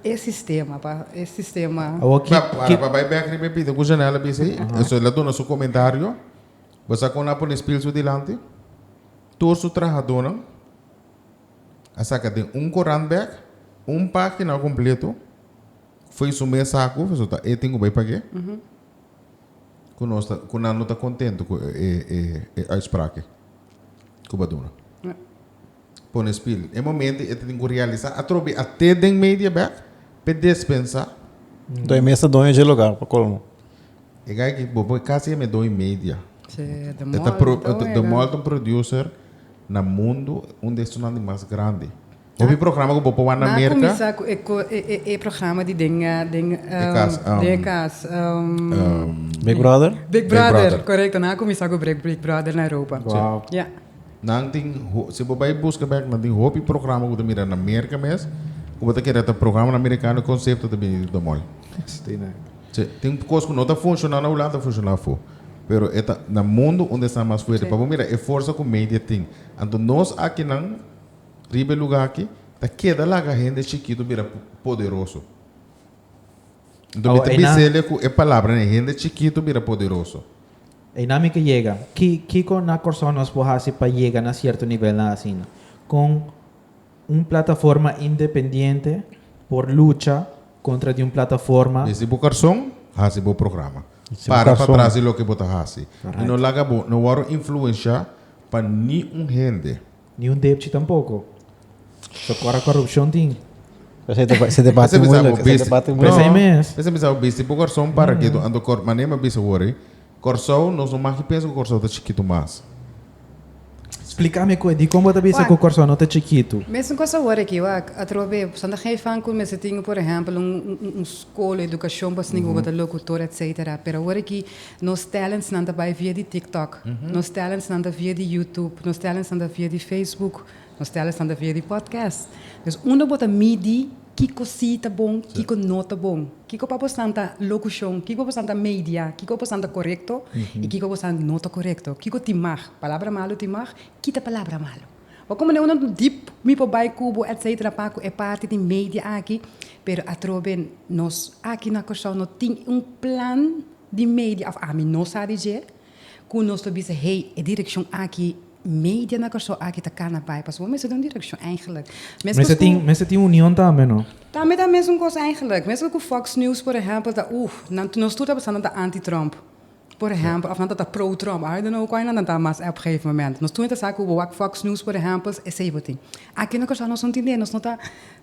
e sistema pa e sistema Awor ki Para pa bai bèk riba e pita ku Janelle a bisa ei. Eso el a duna su komentario. Bo sa kon a pone spil su dilanti? Tur su trahadonan. A saka den un korant bèk un página kompleto fo'i su mes haku, pasobra e tin ku bai pag'é. Ku nos ta, ku nan no ta kontentu ku e uitsprake ku bo duna. Pone spirit. E momento e ta tin ku realisá atrobe a te den media bèk p'e despensá. Nto e mes ta doño dje lugar, pa kolmo. E gai ki bo poi kasi e mes doño media. E ta, e ta, e ta mòlt un producer. Na mundu un di estonan di mas grandi. Hopi programa ku bo por wak na Merka. Nan a kuminsá ku e ko e programa di den den den e kas. Big Brother? Big Brother, korekto. Nan a kuminsá ku Big Big Brother na Europa. Wow. Ya. Nan tin si bo bai buska bèk nan tin hopi programa ku bo ta mira na Merka mes ku bo ta kere ta programanan Merikano e konsepto ta bini di Domol. Asina. Sí, tin cos cu no ta funciona na un lado ta funciona afo. Pero e ta na mundo unda e sta mas fuerte. Pa bo mira e forsa cu media tin. Anto nos akinan riba e luga aki ta keda laga hende chikito bira poderoso. Anto mi ta bisel'e cu e palabranan ei, hende chikito bira poderoso. Einan mi ke yega. Ki, kico na Corsou nos por haci pa yega na cierto nivelnan asina? Con. Un plataforma independiente por lucha kontra di un plataforma. Desdi bo korson, hasi bo programa. Para pa tras di loke bo ta hasi i no laga bo no wòrdu influenshá pa ni un hende. Ni un depchi tampoko. So kòr a korupshon tin. P'esei ta bisa bo bisti. P'esei ta bisa bo bisti bo korson para ke tu anto kòr. Manera mi a bisa wor ei. Kòrsou, nos no maki pensa ku Kòrsou ta chikitu mas. Splikami ku e dikon bo ta bisa ku Kòrsou no ta chikitu. Mes un kos awor aki wak, atrobe Santa Gei fan ku mester tin por ehèmpel un un skol, edukashon pa esnan ku bo ta lokutor etsetera, pero awor aki nos tèlentsnan ta bai via di TikTok, nos tèlentsnan ta via di YouTube, nos tèlentsnan ta via di Facebook, Nos tel esnan ta via di podcast. Dus unda bo ta midi kiko si ta bon, kiko no ta bon, kiko pa bosnan ta locucion, kiko pa bosnan ta media, kiko pa bosnan ta corecto y kiko pa bosnan no ta corecto. Kiko tin mag, palabra malu tin mag, kita palabra malu. Bo con mane unda dip mi por bay cu bo etcetera pa cu e parti di media aki, pero atrobe nos aki na Curaçao no tin un plan di media of ami no sa di dje. Cu nos lo bisa hey e direccion aki media na Corsou aki ta cana bay pasobra bo mester den un direccion eigenlijk mescos cu. Mester tin union tambe no? Tambe ta mesun cos eigenlijk mescos cu fox news por ehempel ta uh nan nos tur ta pensa nan ta anti Trump por ehempel of nan ta ta pro Trump I don't know cu aynan nan ta mas ep gegeven moment nos tur nan ta sa cu bo wak fox news por ehempel esey bo tin aki na Corsou nos no tin den nos no ta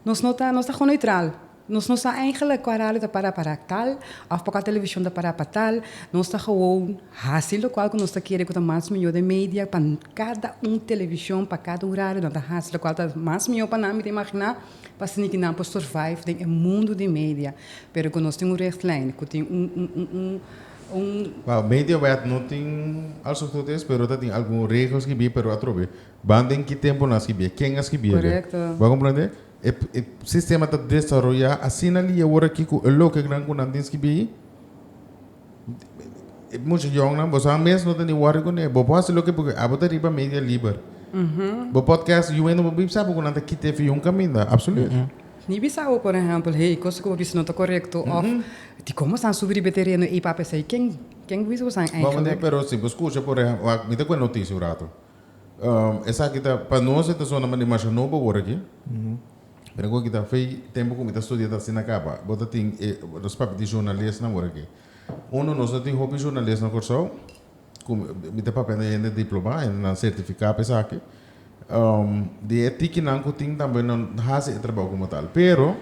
nos no ta nos ta gewoon neutral. Nos no sa eigenlijk kua radio ta para pa raak tal of pa kua televishon ta para pa tal. Nos ta gewoon hasi lokual ku nos ta kere ku ta mas mihó den media. Pa kada un televishon, pa kada un radio nan ta hasi lokual ta mas mihó pa nan, mi ta imaginá, pa sini ku nan por survive den e mundu di media. Pero ku nos tin un richtlijn, ku tin un. Bou, mediawet no tin alsof tot es, pero ta tin algun regel skibié, pero atrobe ban den ki temponan skibié, ken a skibiébe. Korekto. Bo a komprendé? E sistema ta desaroyá asina li awor aki ku e logikanan ku nan tin skibi. Musha yòngnan, boso anmes no ta ni wòri kuné. Bo por hasi loke bo ke, abo ta riba media liber. Bo podcast yu wende bo bin sa poko nan ta kit e fi un kaminda. Absolut. Mi bisa bo, por ehèmpel, hey, kos ku bo bisa no ta korekto òf dikon bo sa subi riba e tereno ei papia esei? Ken, ken bo bisa bo san engelek? Bo mende, pero si bo skucha, por ehèmpel, mi ta kual notisia un ratu. esaki ta pa nos e ta sona mandi masha no bo worde aki pero nko kita fe tempo ku mi ta studia ta asina kaba bo ta tin e nos papia di journalistnan worde aki uno nos no tin hopi journalist na Kòrsou ku mi ta papia den hende diploma hende nan sertifica pa esaki di e tikinan ku tin tambe no hasi e trabou komo tal pero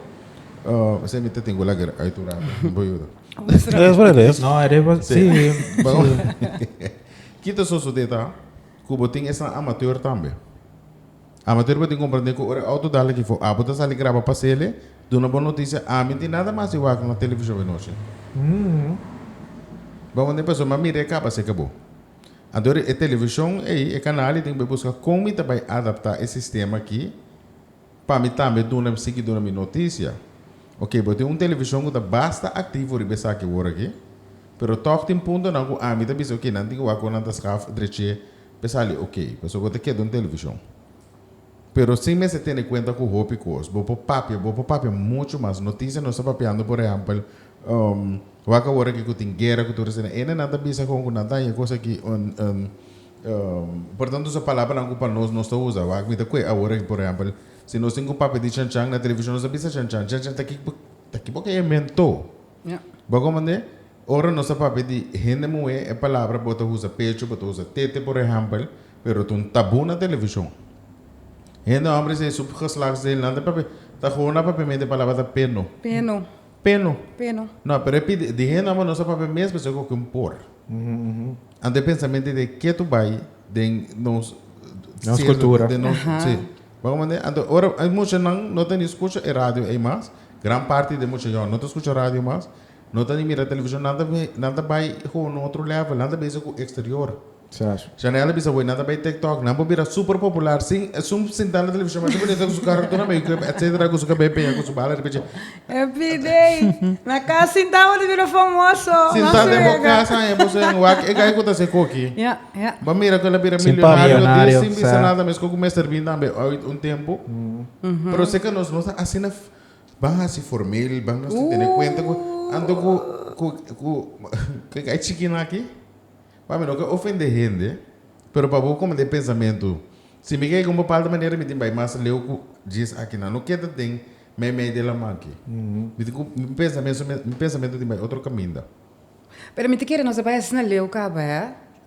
esei mi ta tin ku laga uituranan bo yuda. Res por res. No, e res por si. Kito sosodé ta ku bo tin esnan amateur tambe. Amateur bo tin komprendé ku ora e outo dal aki for, abo ta sali graba pa sele, duna bo notisia, ami tin nada mas di wak na televishon e nochi. Bo manda e persona mira e kaba seka bo. Anto e televishon ei, e kanal ei tin ku bai buska kon mi ta bai adaptá e sistema aki. Pa mi tambe duna sigi duna mi notisia. Oke, bo tin un televishon ku ta basta aktivo riba esaki wor aki, pero tòg tin puntonan ku ami ta bisa oke nan tin ke wak ora nan ta skaf drech'é pa e sali oke, pasobra bo ta keda un televishon. Pero sin mester tene kuenta ku hopi kos. Bo por papia, bo por papia muchu mas notisia. Nos ta papiando por ehèmpel wak awor aki ku tin guera ku tur esei. Ene nan ta bisa kon ku nan ta haña kos aki. Por tanto sa palabranan cu pa nos nos ta usa wak mi ta cue awor aki por ehempel si nos tin cu papia di chan chan na television nos a bisa chan chan chan chan ta ki ta ki bo ki invento bo comprende ora nos ta papia di hende muhe e palabra bo ta usa pecho bo ta usa tete por ehempel pero ta un tabu na television hende hombre esei su geslagsdeel nan ta papia ta gona papia mi e palabra ta peno. Peno. Peno. No, pero e pidi, di hende amo nos a papia mes persoa ku oki un por. Anto e pensamentu ei di ke to bai den nos Nos sierto kultura. den nos Aha. si. Bo a komprende? Anto ora e mushanan no ta ni skucha e radio ei mas, gran parti den musha yòn no ta skucha radio mas, no ta ni mira televishon, nan ta nan ta bai gewoon otro lèvel, nan ta bese ku eksterior. Chanel a bisa, Hui, nan ta bay TikTok, nan por bira super popular sin esun sintá na televishon masha bunito ku su karro tur na meyu krip etsetera ku su kabel peña ku su bala riba dje. Everyday na kas sintá bo ta bira famoso. Sintá den bo kas aña bo sen wak e gai ku ta hasi e koki. Bo mira ku el a bira milionario sin bisa nada mes ku ku mester bin tambe oit un tempu. Pero seka nos nos ta asina ban hasi formal ban nos tin tene kuenta ku anto ku ku e gai chikina aki. Pa mi no ke ofende hende, pero pa bo komo ta e pensamentu, si mi ke gun pa palta manera mi tin bai mas leu ku djis akinan, lo ke ta den meimei di lamanki? Mi tin ku mi pensamentu mi pensamentu tin bai otro kaminda. Pero mi ta kere nos a bai asina leu kaba e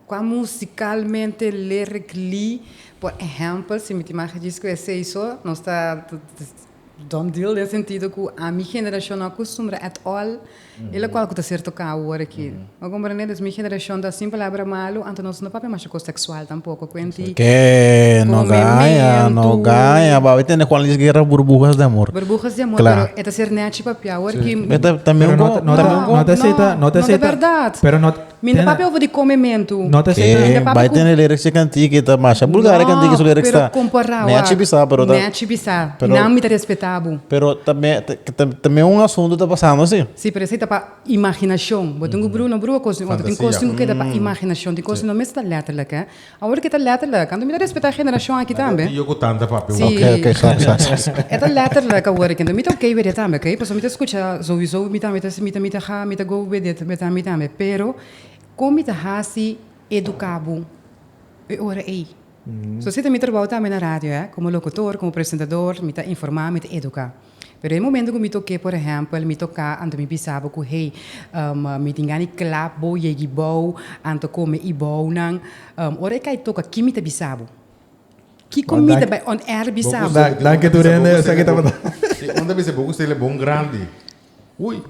kua musikalmente lirikli, por ehèmpel, si mi tin maha djis ku esei so, nos ta. Dom deal den sentido cu a mi generacion no acustumbrá at all e locual cu ta ser tocá awor aki. Bo comprendé? Dus mi generacion ta sin palabra malu, anto nos no papia masha cos sexual tampoco. Cuenti Ke no Como gaña, memento. no gaña. Bo a tende cu analiz guerra burbujas de amor. burbujas di amor, Cla. pero e ta ser nechi papia awor ki. Pero ta, también Pero no, con- ta- no, ta, también no con- ta aceita, no, no ta no ta aceita. verdad. Pero no, Mi no papia over di come mentu. No ta seki. Mi ta papia Bai cu- tene lyrics di cantica y ta masha bulgar e cantica y su lyrics ta. pero compará Nea wak. chi bisa, pero ta. Nea chi bisa. Pero- Nan mi ta respetá bo. Pero ta me ta ta ta me un asunto ta pasando si. Sí, pero esei ta pa imaginacion. Bo tin cu brua, no brua cos di un otro. Tin cos tin cu Fantasia. keda pa imaginacion. Tin cos tin no mester ta letterlijk, hè. Awor ke ta letterlijk, anto mi ta respeta generashon aki tambe. Aki yo ku tanta papia. Si. Oke oke sa sa sa. E ta letterlijk awor eki, anto mi ta oke wede tambe oke, pasobra mi ta skucha souiso mi tambe ta mi ta mi ta ha mi ta go wede ta mi tambe, pero kon mi ta hasi eduka bo e ora ei? So si ta mi trabou tambe na radio e, komo lokutor, komo presentador, mi ta informa, mi ta eduka. Pero e momento cu mi tok'é, por ehempel, mi tok'á, anto mi bisa bo cu hey, mi tin gana di clap bo, yegi bou, anto come i bounan. Ora e kai toka, kin mi ta bisa bo? Kiko mi ta bai on air bisa bo? Danki Turene, esaki tabata. Si un ta bisa bo cu Stella e bon grandi, ui.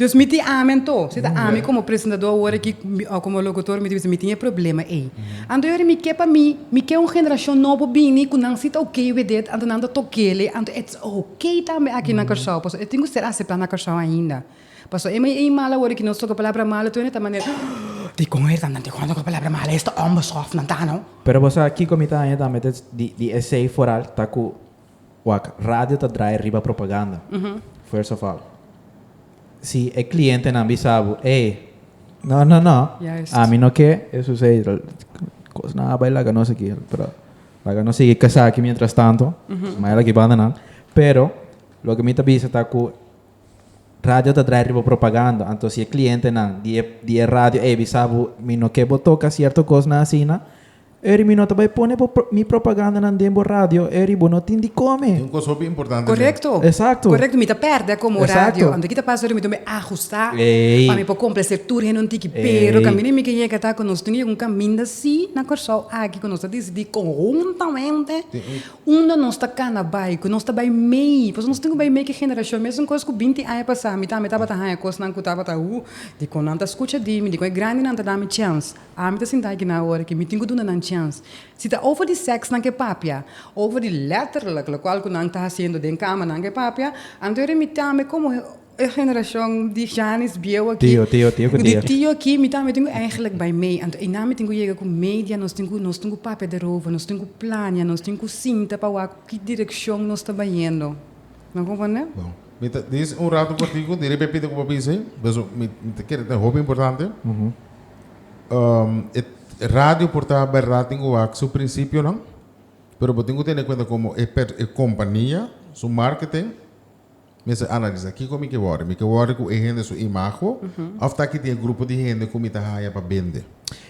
Dous mi tin ami anto, si ta ami komo presentadó awor aki, o komo lokutor, mi ta bisa mi tin e problema ei. Anto yori mi ke pa mi, mi ke un generashon nobo bini ku nan si ta oke with it, anto nan ta tokele, anto it's oke tambe aki na Kòrsou, pasobra e tin ku ser aseptá na Kòrsou ainda. Pasobra e mei ei mal awor aki nos toka palabra mal, anto nan ta manera, Hoo, dikon e ta nan, dikon a toka palabra mal, esta òmber sòf nan ta no. Pero bo sa kiko mi ta haña tambe di esei foral, ta ku Wak, radio ta drai riba propaganda. First of all, si e clientenan bisa bo, ey, no, no, no, ami no ke esun sei cosnan a bai laga nos aki, pero laga nos sigui kasa aki mientras tanto, maya lak di bandanan. Pero loke mi ta bisa ta ku radio ta drai riba propaganda, anto si e clientenan di e, di e radio ey bisa bo, mi no ke bo toka cierto cosnan asina, Eri mi no ta bai pone bo mi propagandanan den bo radio, eri bo no tin di come. Tin un cos hopi importante den. Correcto. Exacto. Correcto, mi ta perde como radio. Exacto. Anto ki ta pasa oca mi dome ajusta Ey. pa mi por complacer tur hende un tiki. Ey. Pero caminda mi ke yega ta cu nos tin yega un caminda si na Corsou aki cu nos ta decidi conjuntamente Tin un. unda nos ta cana bai, cu nos ta bai mey, pasobra nos tin cu bai mey cu generacion mesun cos cu binti aña pasa mi tambe tabata haya cosnan cu tabata hu, dicon nan ta scucha di mi, dicon e grandinan ta dami chance. Ami ta sinta aki nan ora ki mi tin ku duna nan chèns. Si ta over di sèks nan ke papia, over di lètterlik lokual ku nan ta hasiendo den kama nan ke papia, anto e remití ami komo e generashon di Janis bieu aki, Tio, tio, tio ku tio. di tio aki, mi tambe tin ku èigelik bai mei. Anto einan mi tin ku yega ku media, nos tin ku nos tin ku papia derover, nos tin ku plania, nos tin ku sinta pa wak ku direkshon nos ta bayendo. Nan kompondé? Bon. Mi ta dis un ratu pa ti ku di repepit loke bo a bisa ei. Por eso mi ta kere ta hopi importante. Um, e radio por ta berdad tin cu wak su principionan, pero bo tin cu tene cuenta como e, per, e compania, su marketing, mester analisa kico mi ke worry. Mi ke worry cu e hende su imago of taki tin e grupo di hende cu mi ta haya pa bende.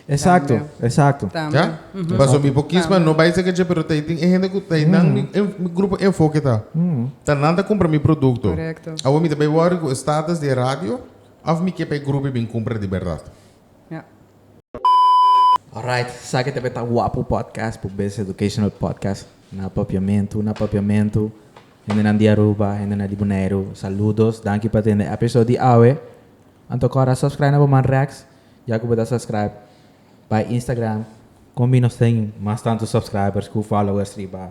Exacto, Tambe. exacto. Tambe. Ja? Mhm. Paso mi por kisma Tambe. no bai seke dje, pero tai tin e hende cu tai nan mi, en- mi grupo enfoque ta. Ta nan ta compra mi producto. Correcto. Awo mi ta bai worry cu e status di e radio, Of mi ke pa e grupi bin kumpra di berdad. Alright, sa ke ta be ta guapo podcast por bes educational podcast na Papiamentu, na Papiamentu, hendenan di Aruba, hendenan di Boneiru, saludos, danki pa tende episode di awe. Anto kor a subscribe na bo man Rex, ya ku bo ta subscribe bai Instagram, kon mi nos tin mas tantu subscribers ku followers riba.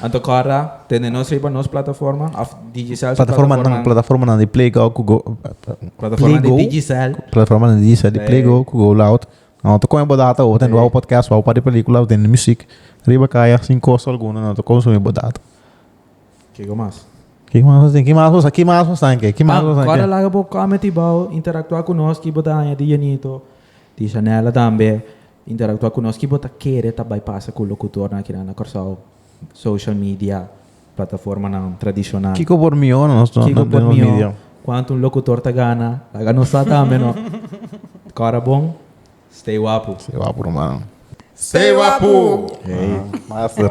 Anto Cora, tende nos riba nos plataforma of Digicel su plataformanan? Plataformanan di Playgo ku go. Plataformanan di Digicel. Plataformanan di Digicel di Playgo ku go loud. No ta kome bo data hopi tende wou podcast wou pari pelikula of tende muzik riba kaya sin kosto alguno no ta konsumi bo data. Kiko mas? Ki mas bo tin? Ki mas bo sa ki mas bo sa ki mas bo sa ki. Cora laga bo comment hibao interaktua ku nos ki bo ta haña di Janito di Shanella tambe Interaktua ku nos. Ki bo ta kere ta bai pasa ku lokutornan akinan na Kòrsou? Social media, plataformanan tradishonal. Kiko por mihó na nos media? Kiko por mihó? Kuantu un lokutor ta gana? Laga nos sa tambe no. Kòra bon. Stay wapu. Stay wapu ruman. Stay wapu! Ey. Master.